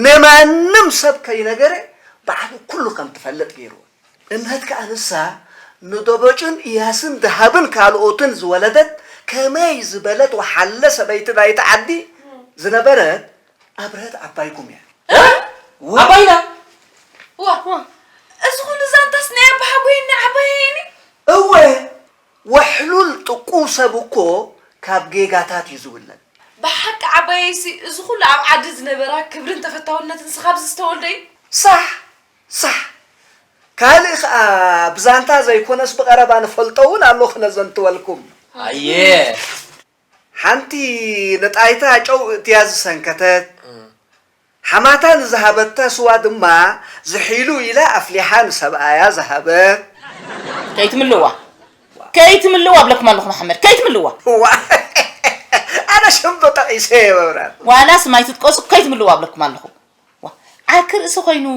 ንማንም ሰብ ከይነገረ ባዕሉ ኩሉ ከም ትፈልጥ ገይርወን። እምነት ከኣ ንሳ ንደበጩን እያስን ደሃብን ካልኦትን ዝወለደት ከመይ ዝበለት ወሓለ ሰበይቲ ናይቲ ዓዲ ዝነበረት፣ ኣብርሀት ዓባይኩም እያ። ዓባይና ዋ እዚ ኩሉ ዛንታስ ናይ ኣባሓጎይን ናይ ዓባየይን እዩ። እወ ወሕሉል ጥቁው ሰብ እኮ ካብ ጌጋታት እዩ ዝውለድ። ብሓቂ ዓባየይሲ እዚ ኩሉ ኣብ ዓዲ ዝነበራ ክብርን ተፈታውነትንሲ ካብዚ ዝተወልደ እዩ። ሳሕ ሳሕ ካልእ ከኣ ብዛንታ ዘይኮነስ ብቐረባ ንፈልጦ እውን ኣሎ ክነዘንትወልኩም። ኣየ ሓንቲ ንጣይታ ጨው እእትያ ዝሰንከተት፣ ሓማታ ንዝሃበታ ስዋ ድማ ዝሒሉ ኢላ ኣፍሊሓ ንሰብኣያ ዝሃበት። ከይትምልእዋ ከይትምልእዋ እብለኩም ኣለኹ መሓመድ ከይትምልእዋ። እዋእ ኣነ ሽም ዶ ጠቒሰ እየ መብራህቱ። ዋላ ስም ኣይትጥቀሱ ከይትምልእዋ እብለኩም ኣለኹ። ዋእ ዓርኪ ርእሲ ኮይኑ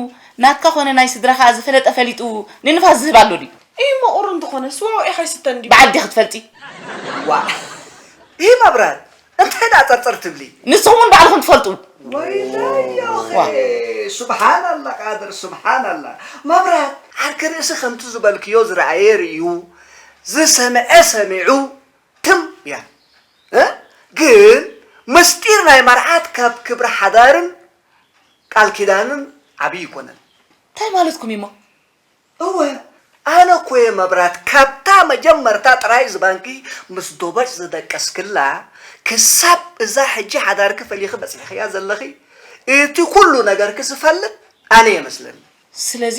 ናትካ ኮነ ናይ ስድራካ ዝፈለጠ ፈሊጡ ንንፋስ ዝህብ ኣሎ ድዩ። ኢሂ መቑር እንተኾነ ስዋ ውዒ ከይስተ እንድዩ። በዓል ዲኺ ትፈልጢ። ዋእ ኢሂ መብረር እንታይ ደኣ ጸርጸር ትብሊ። ንስኹም ውን ባዕልኹም ትፈልጡ። ወይለዮኺ ሱብሃናላ ቃድር ሱብሃናላ መብራት ዓርኪ ርእሲ ከምቲ ዝበልክዮ ዝረኣየ ርእዩ ዝሰምዐ ሰሚዑ ትም እያ እ ግን ምስጢር ናይ መርዓት ካብ ክብሪ ሓዳርን ቃል ኪዳንን ዓብዪ ይኮነን። ታይ ማለትኩም እዩ እሞ? እወ ኣነ እኮ እየ መብራት ካብታ መጀመርታ ጥራይ ዝባንኪ ምስ ዶበጭ ዝደቀስክላ ክሳብ እዛ ሕጂ ሓዳርኪ ፈሊኺ በጺሕኽያ ዘለኺ እቲ ኩሉ ነገርኪ ዝፈልጥ ኣነ እየ መስለኒ። ስለዚ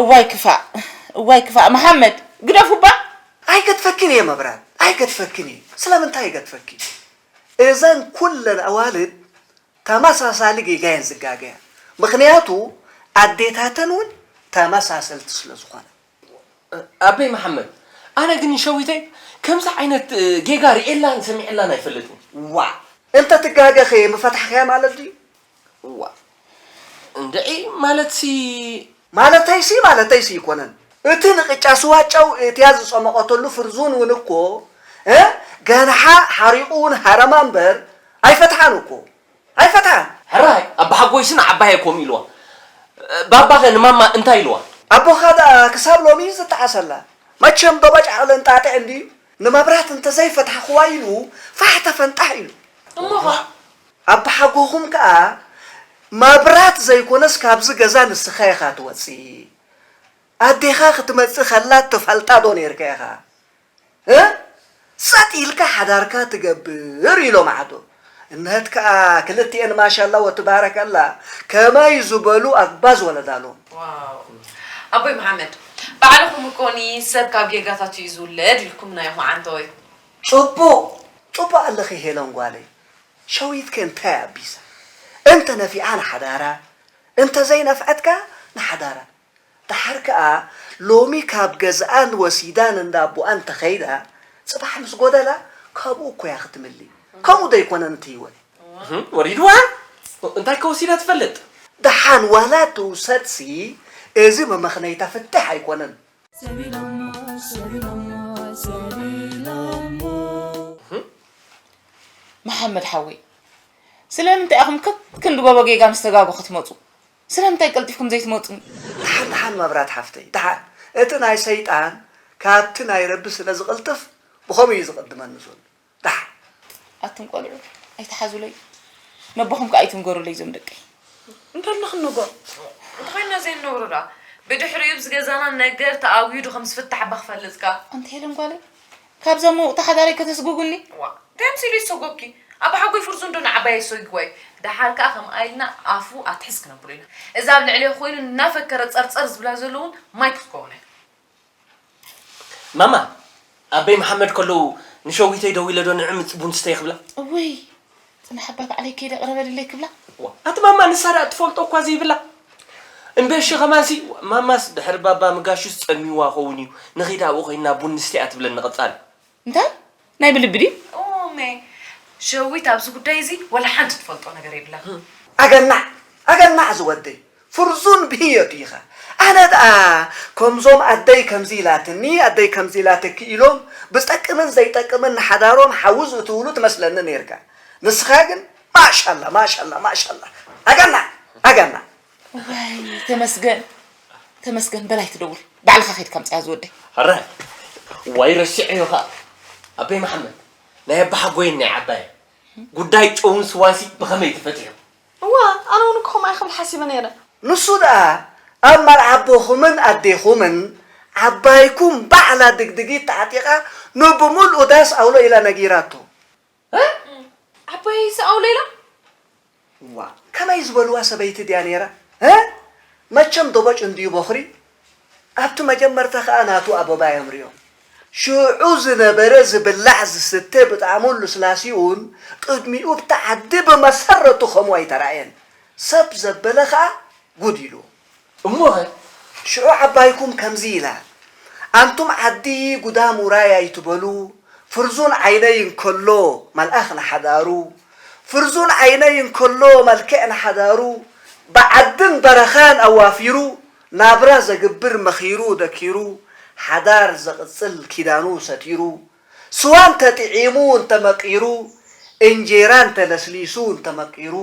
እዋይ ክፋእ እዋይ ክፋእ መሓመድ ግደፉ እባ። ኣይገድፈኪን እየ መብራን ኣይገድፈኪን እየ ስለምንታይ ይገድፈኪ እዘን ኩለን ኣዋልድ ተመሳሳሊ ጌጋ እየን ዝጋገያ ምኽንያቱ ኣዴታተን እውን ተመሳሰልቲ ስለዝኾና ኣቤ መሓመድ ኣነ ግን ንሸዊተይ ከምዚ ዓይነት ጌጋ ሪኤላን ሰሚዐላን ኣይፈልጥን ዋእ። እንተ ትጋገ ከ ምፈታሕክያ ማለት ድዩ። ዋእ እንድዒ ማለትሲ። ማለተይሲ ማለተይሲ ኣይኮነን እቲ ንቅጫ ስዋ ጨው እትያ ዝጸሞቀትሉ ፍርዙን ውን እኮ ገንሓ ሓሪቁ ውን ሃረማ እምበር ኣይፈትሓን እኮ ኣይፈትሓን። ሕራይ ኣባሓጎይሲ ንዓባይ ኣይኮኑ ኢልዋ ባባኸ ንማማ እንታይ ኢልዋ? ኣቦኻ ደኣ ክሳብ ሎሚ እዩ ዝጠዓሰላ። መቸም ዶባጭ ዓቕሊ እንጣጢዕ እንድዩ ንመብራት እንተዘይፈታሕክዋ ኢሉ ፋሕ ተፈንጣሕ ኢሉ። እሞኸ? ኣባሓጎኹም ከኣ መብራት ዘይኮነስ ካብዚ ገዛ ንስኻ ኢኻ ትወጽእ። ኣዴኻ ክትመጽእ ከላ ትፈልጣ ዶ ኔርካ ኢኻ? እ ጸጥ ኢልካ ሓዳርካ ትገብር ኢሎም ዓዶ እምህት ከኣ ክልቲኤን ማሻላ ወትባረከላ ከማይ ዝበሉ ኣግባዝ ወለዳ ኣሎም። ዋው ኣቦይ መሓመድ ባዕልኹም እኮ ን ሰብ ካብ ጌጋታቱ እዩ ዝውለድ ኢልኩምና ኢኹም ዓንተወይ። ጽቡቅ ጽቡቅ ኣለኺ ሄለን ጓለይ ሸዊት ከ እንታይ ኣቢሳ እንተ ነፊዓ ንሓዳራ እንተ ዘይነፍዐት ከኣ ንሓዳራ ደሓር ከኣ ሎሚ ካብ ገዝኣን ወሲዳ ንእንዳኣቦኣ እንተኸይዳ ጽባሕ ምስ ጎደላ ካብኡ እኮ'ያ ክትምሊ ከምኡ ደይኮነን እቲ ሂወት። ወሪድዋ እንታይ ከ ወሲዳ ትፈልጥ። ደሓን ዋላ ትውሰድሲ እዚ መመኽነይታ ፍትሕ ኣይኮነን። ሰብ ኢሎሞ ሰብ ኢሎሞ ሰብ ኢሎሞ። መሓመድ ሓወይ ስለምንታይ ኢኹም ከክንዲ ጎቦ ጌጋ ምስ ተጋጉ ክትመጹ ስለምንታይ ቀልጢፍኩም ዘይትመጹ? ደሓን ደሓን መብራት ሓፍተይ ደሓን እቲ ናይ ሰይጣን ካብቲ ናይ ረቢ ስለ ዝቅልጥፍ ብከምኡ እዩ ዝቅድመኒ ዘሎ ደሓን። ኣቱም ቆልዑ ኣይትሓዙለይ ነቦኹም ከኣ ኣይትንገሩለይ እዞም ደቀይ። እንታይ ኢልና ክንነግሮ እንተኾይንና ዘይንነግሮ ደኣ ብድሕሪኡ ብዝገዛና ነገር ተኣዊዱ ከምዝፍታሕባ ክፈልጥከ። ኣንቲ ሄለን ጓለይ ካብዛ ምውቕቲ ሓዳረይ ከተስጉጉኒ? እዋእ! እንታይ መሲሉ እዩ ዝሰጎግኪ? ኣባሓጎይ ፍርዙን ዶ ንዓባየይ ኣሰጊግዋ እዩ? ደሓር ከኣ ከምኣ ኢልና ኣፉ ኣትሕዝ ክነብሎ ኢና። እዛ ኣብ ልዕሊኣ ኮይኑ እናፈከረ ጸርጸር ዝብላ ዘሎ እውን ማይክ ክትከውን እያ። ማማ፣ ኣበይ መሓመድ ከለዉ ንሸዊተይ ደዊለ ዶ ንዕምጽ ቡን ስተዪ ክብላ? እውይ! ጽናሕ እባ ባዕለይ ከይደ ቅረበልለይ ክብላ። እዋ ኣቲ ማማ ንሳ ድኣ ትፈልጦ እኳ ዘይብላ እንዶ እሺ ከማንሲ ማማስ ድሕሪ ባባ ምጋሹስ ጸሚዋ ከውን እዩ ንኺድ ኣብኡ ኮይንና ቡን ንስተ እያ ትብለኒ ቀጻሊ። እንታይ ናይ ብልቢ ድዩ? እው እሜ ሸዊት ኣብዚ ጉዳይ እዚ ወላ ሓንቲ ትፈልጦ ነገር የብላን። ኣገናዕ ኣገናዕ ዝወደይ ፍርዙን ብህዮ ዲኻ ኣነ ደኣ ከምዞም ኣደይ ከምዚ ኢላትኒ ኣደይ ከምዚ ኢላትኪ ኢሎም ብዝጠቅምን ዘይጠቅምን ንሓዳሮም ሓዊ ዝእትውሉ ትመስለኒ ኔርካ ንስኻ ግን ማሻላ ማሻላ ማሻላ ኣገናዕ ኣገናዕ። እዋይ ተመስገን ተመስገን በል ኣይትደውል ባዕልኻ ከይድካ ኣምጽኣ ዝወደይ። ሕራይ ዋይ ረሲዐዮ ከኣ ኣቤ መሓመድ ናይ ኣባሓጎይን ናይ ዓባየን ጉዳይ ጨውን ስዋንሲ ብኸመይ ተፈቲሑ? እወ ኣነ ውን ከምኡ እየ ክብል ሓሲበ ነይረ። ንሱ ደኣ ኣብ ማል ኣቦኹምን ኣዴኹምን ዓባይኩም ባዕላ ድግድጊት ተዓጢቃ ን ብምልኡ ዳስ ኣውሎ ኢላ ነጊራቶ። እህ ዓባየይ'ሲ ኣውሎ ኢላ? ዋእ ከመይ ዝበልዋ ሰበይቲ ድያ ነይራ እህ መቸም ዶቦጭ እንድዩ ቦኽሪ ኣብቲ መጀመርታ ከኣ ናቱ ኣበባ እዮም ሪኦም ሽዑ ዝነበረ ዝብላዕ ዝስተ ብጣዕሙን ልስላሲኡን ቅድሚኡ ኣብቲ ዓዲ ብመሰረቱ ከምኡ ኣይተራእየን ሰብ ዘበለ ከኣ ጉድ ኢልዎ። እሞኸ ሽዑ ዓባይኩም ከምዚ ኢላ ኣንቱም ዓዲ ጉዳም ውራይ ኣይትበሉ ፍርዙን ዓይነይ እንከሎ መልኣኽ ንሓዳሩ ፍርዙን ዓይነይ እንከሎ መልክዕ ንሓዳሩ ብዓድን በረኻን ኣዋፊሩ ናብራ ዘግብር መኺሩ ደኪሩ ሓዳር ዘቕጽል ኪዳኑ ሰቲሩ ስዋ እንተ ጥዒሙ እንተ መቂሩ እንጀራ እንተ ለስሊሱ እንተ መቂሩ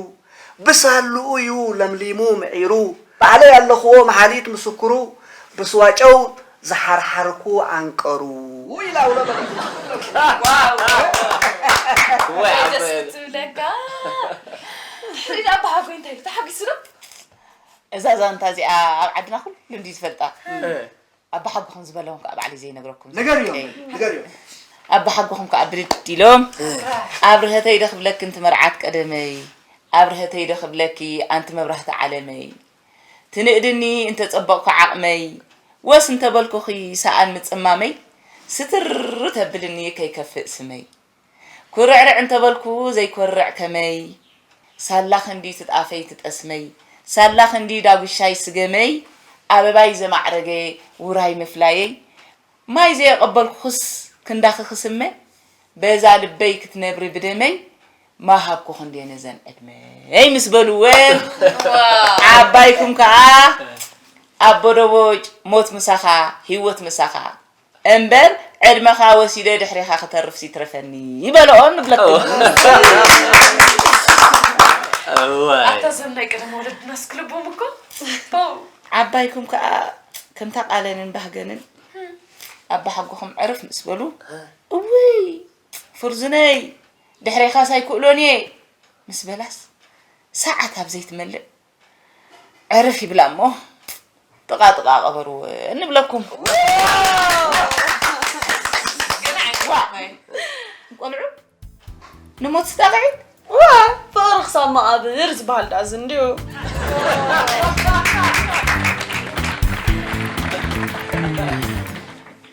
ብሳሉኡ ዩ ለምሊሙ ምዒሩ ባዕለይ ኣለኹዎ መሓሊት ምስኩሩ ብስዋ ጨው ዝሓርሓርኩ ዓንቀሩ ኢላ ውሎ በለትኒ። ደስ ክትብለካ ድሕሪት ኣባሃጎይ እንታይ ኢሉ ተሓጒሱ ዶ? እዛ ዛንታ እዚኣ ኣብ ዓድና ኩሉ እንድዩ ዝፈልጣ ኣባሓጎኹም ዝበለኹም ከዓ ባዕለይ ዘይነግረኩም ኣባሓጎኹም ከዓ ብድድ ኢሎም ኣብርሀተይ ዶ ክብለኪ እንቲ መርዓት ቀደመይ ኣብርሀተይ ዶ ክብለኪ ኣንቲ መብራህቲ ዓለመይ ትንእድኒ እንተፀበቕኩ ዓቕመይ ወስ እንተበልኩኺ ሰኣን ምፅማመይ ስትር ተብልኒ ከይከፍእ ስመይ ኩርዕርዕ እንተበልኩ ዘይኮርዕ ከመይ ሳላ ክንዲ ትጣፈይ ትጠስመይ ሳላ ክንዲ ዳጉሻይ ስገመይ ኣበባይ ዘማዕረገ ውራይ ምፍላየይ ማይ ዘየቐበልኩኽስ ክንዳኺ ክስመ በዛ ልበይ ክትነብሪ ብደመይ ማሃብኩ ክንዴ ነዘን ዕድመይ ምስ በሉወን ዓባይኩም ከኣ ኣቦ ደቦጭ ሞት ምሳኻ ሂወት ምሳኻ እምበር ዕድመኻ ወሲደ ድሕሬኻ ክተርፍስ ይትረፈኒ በልኦ ንብለኩም። ኣታ እዞም ናይ ቀደም ወለድናስ ክልቦም እኮ ዓባይኩም ከዓ ከምታ ቃለንን ባህገንን ኣባሓጎኹም ዕርፍ ምስ በሉ እውይ ፍርዙነይ ድሕሬኻስ ኣይክእሎን እየ ምስ በላስ ሰዓት ኣብ ዘይትመልእ ዕርፍ ይብላ እሞ ጥቓ ጥቓ ቀበሩ እንብለኩም ቆልዑ ንሞት ስጣቕዒት ዋ ፍቕሪ ክሳብ መቓብር ዝበሃል ዳኣ እዚ እንድዩ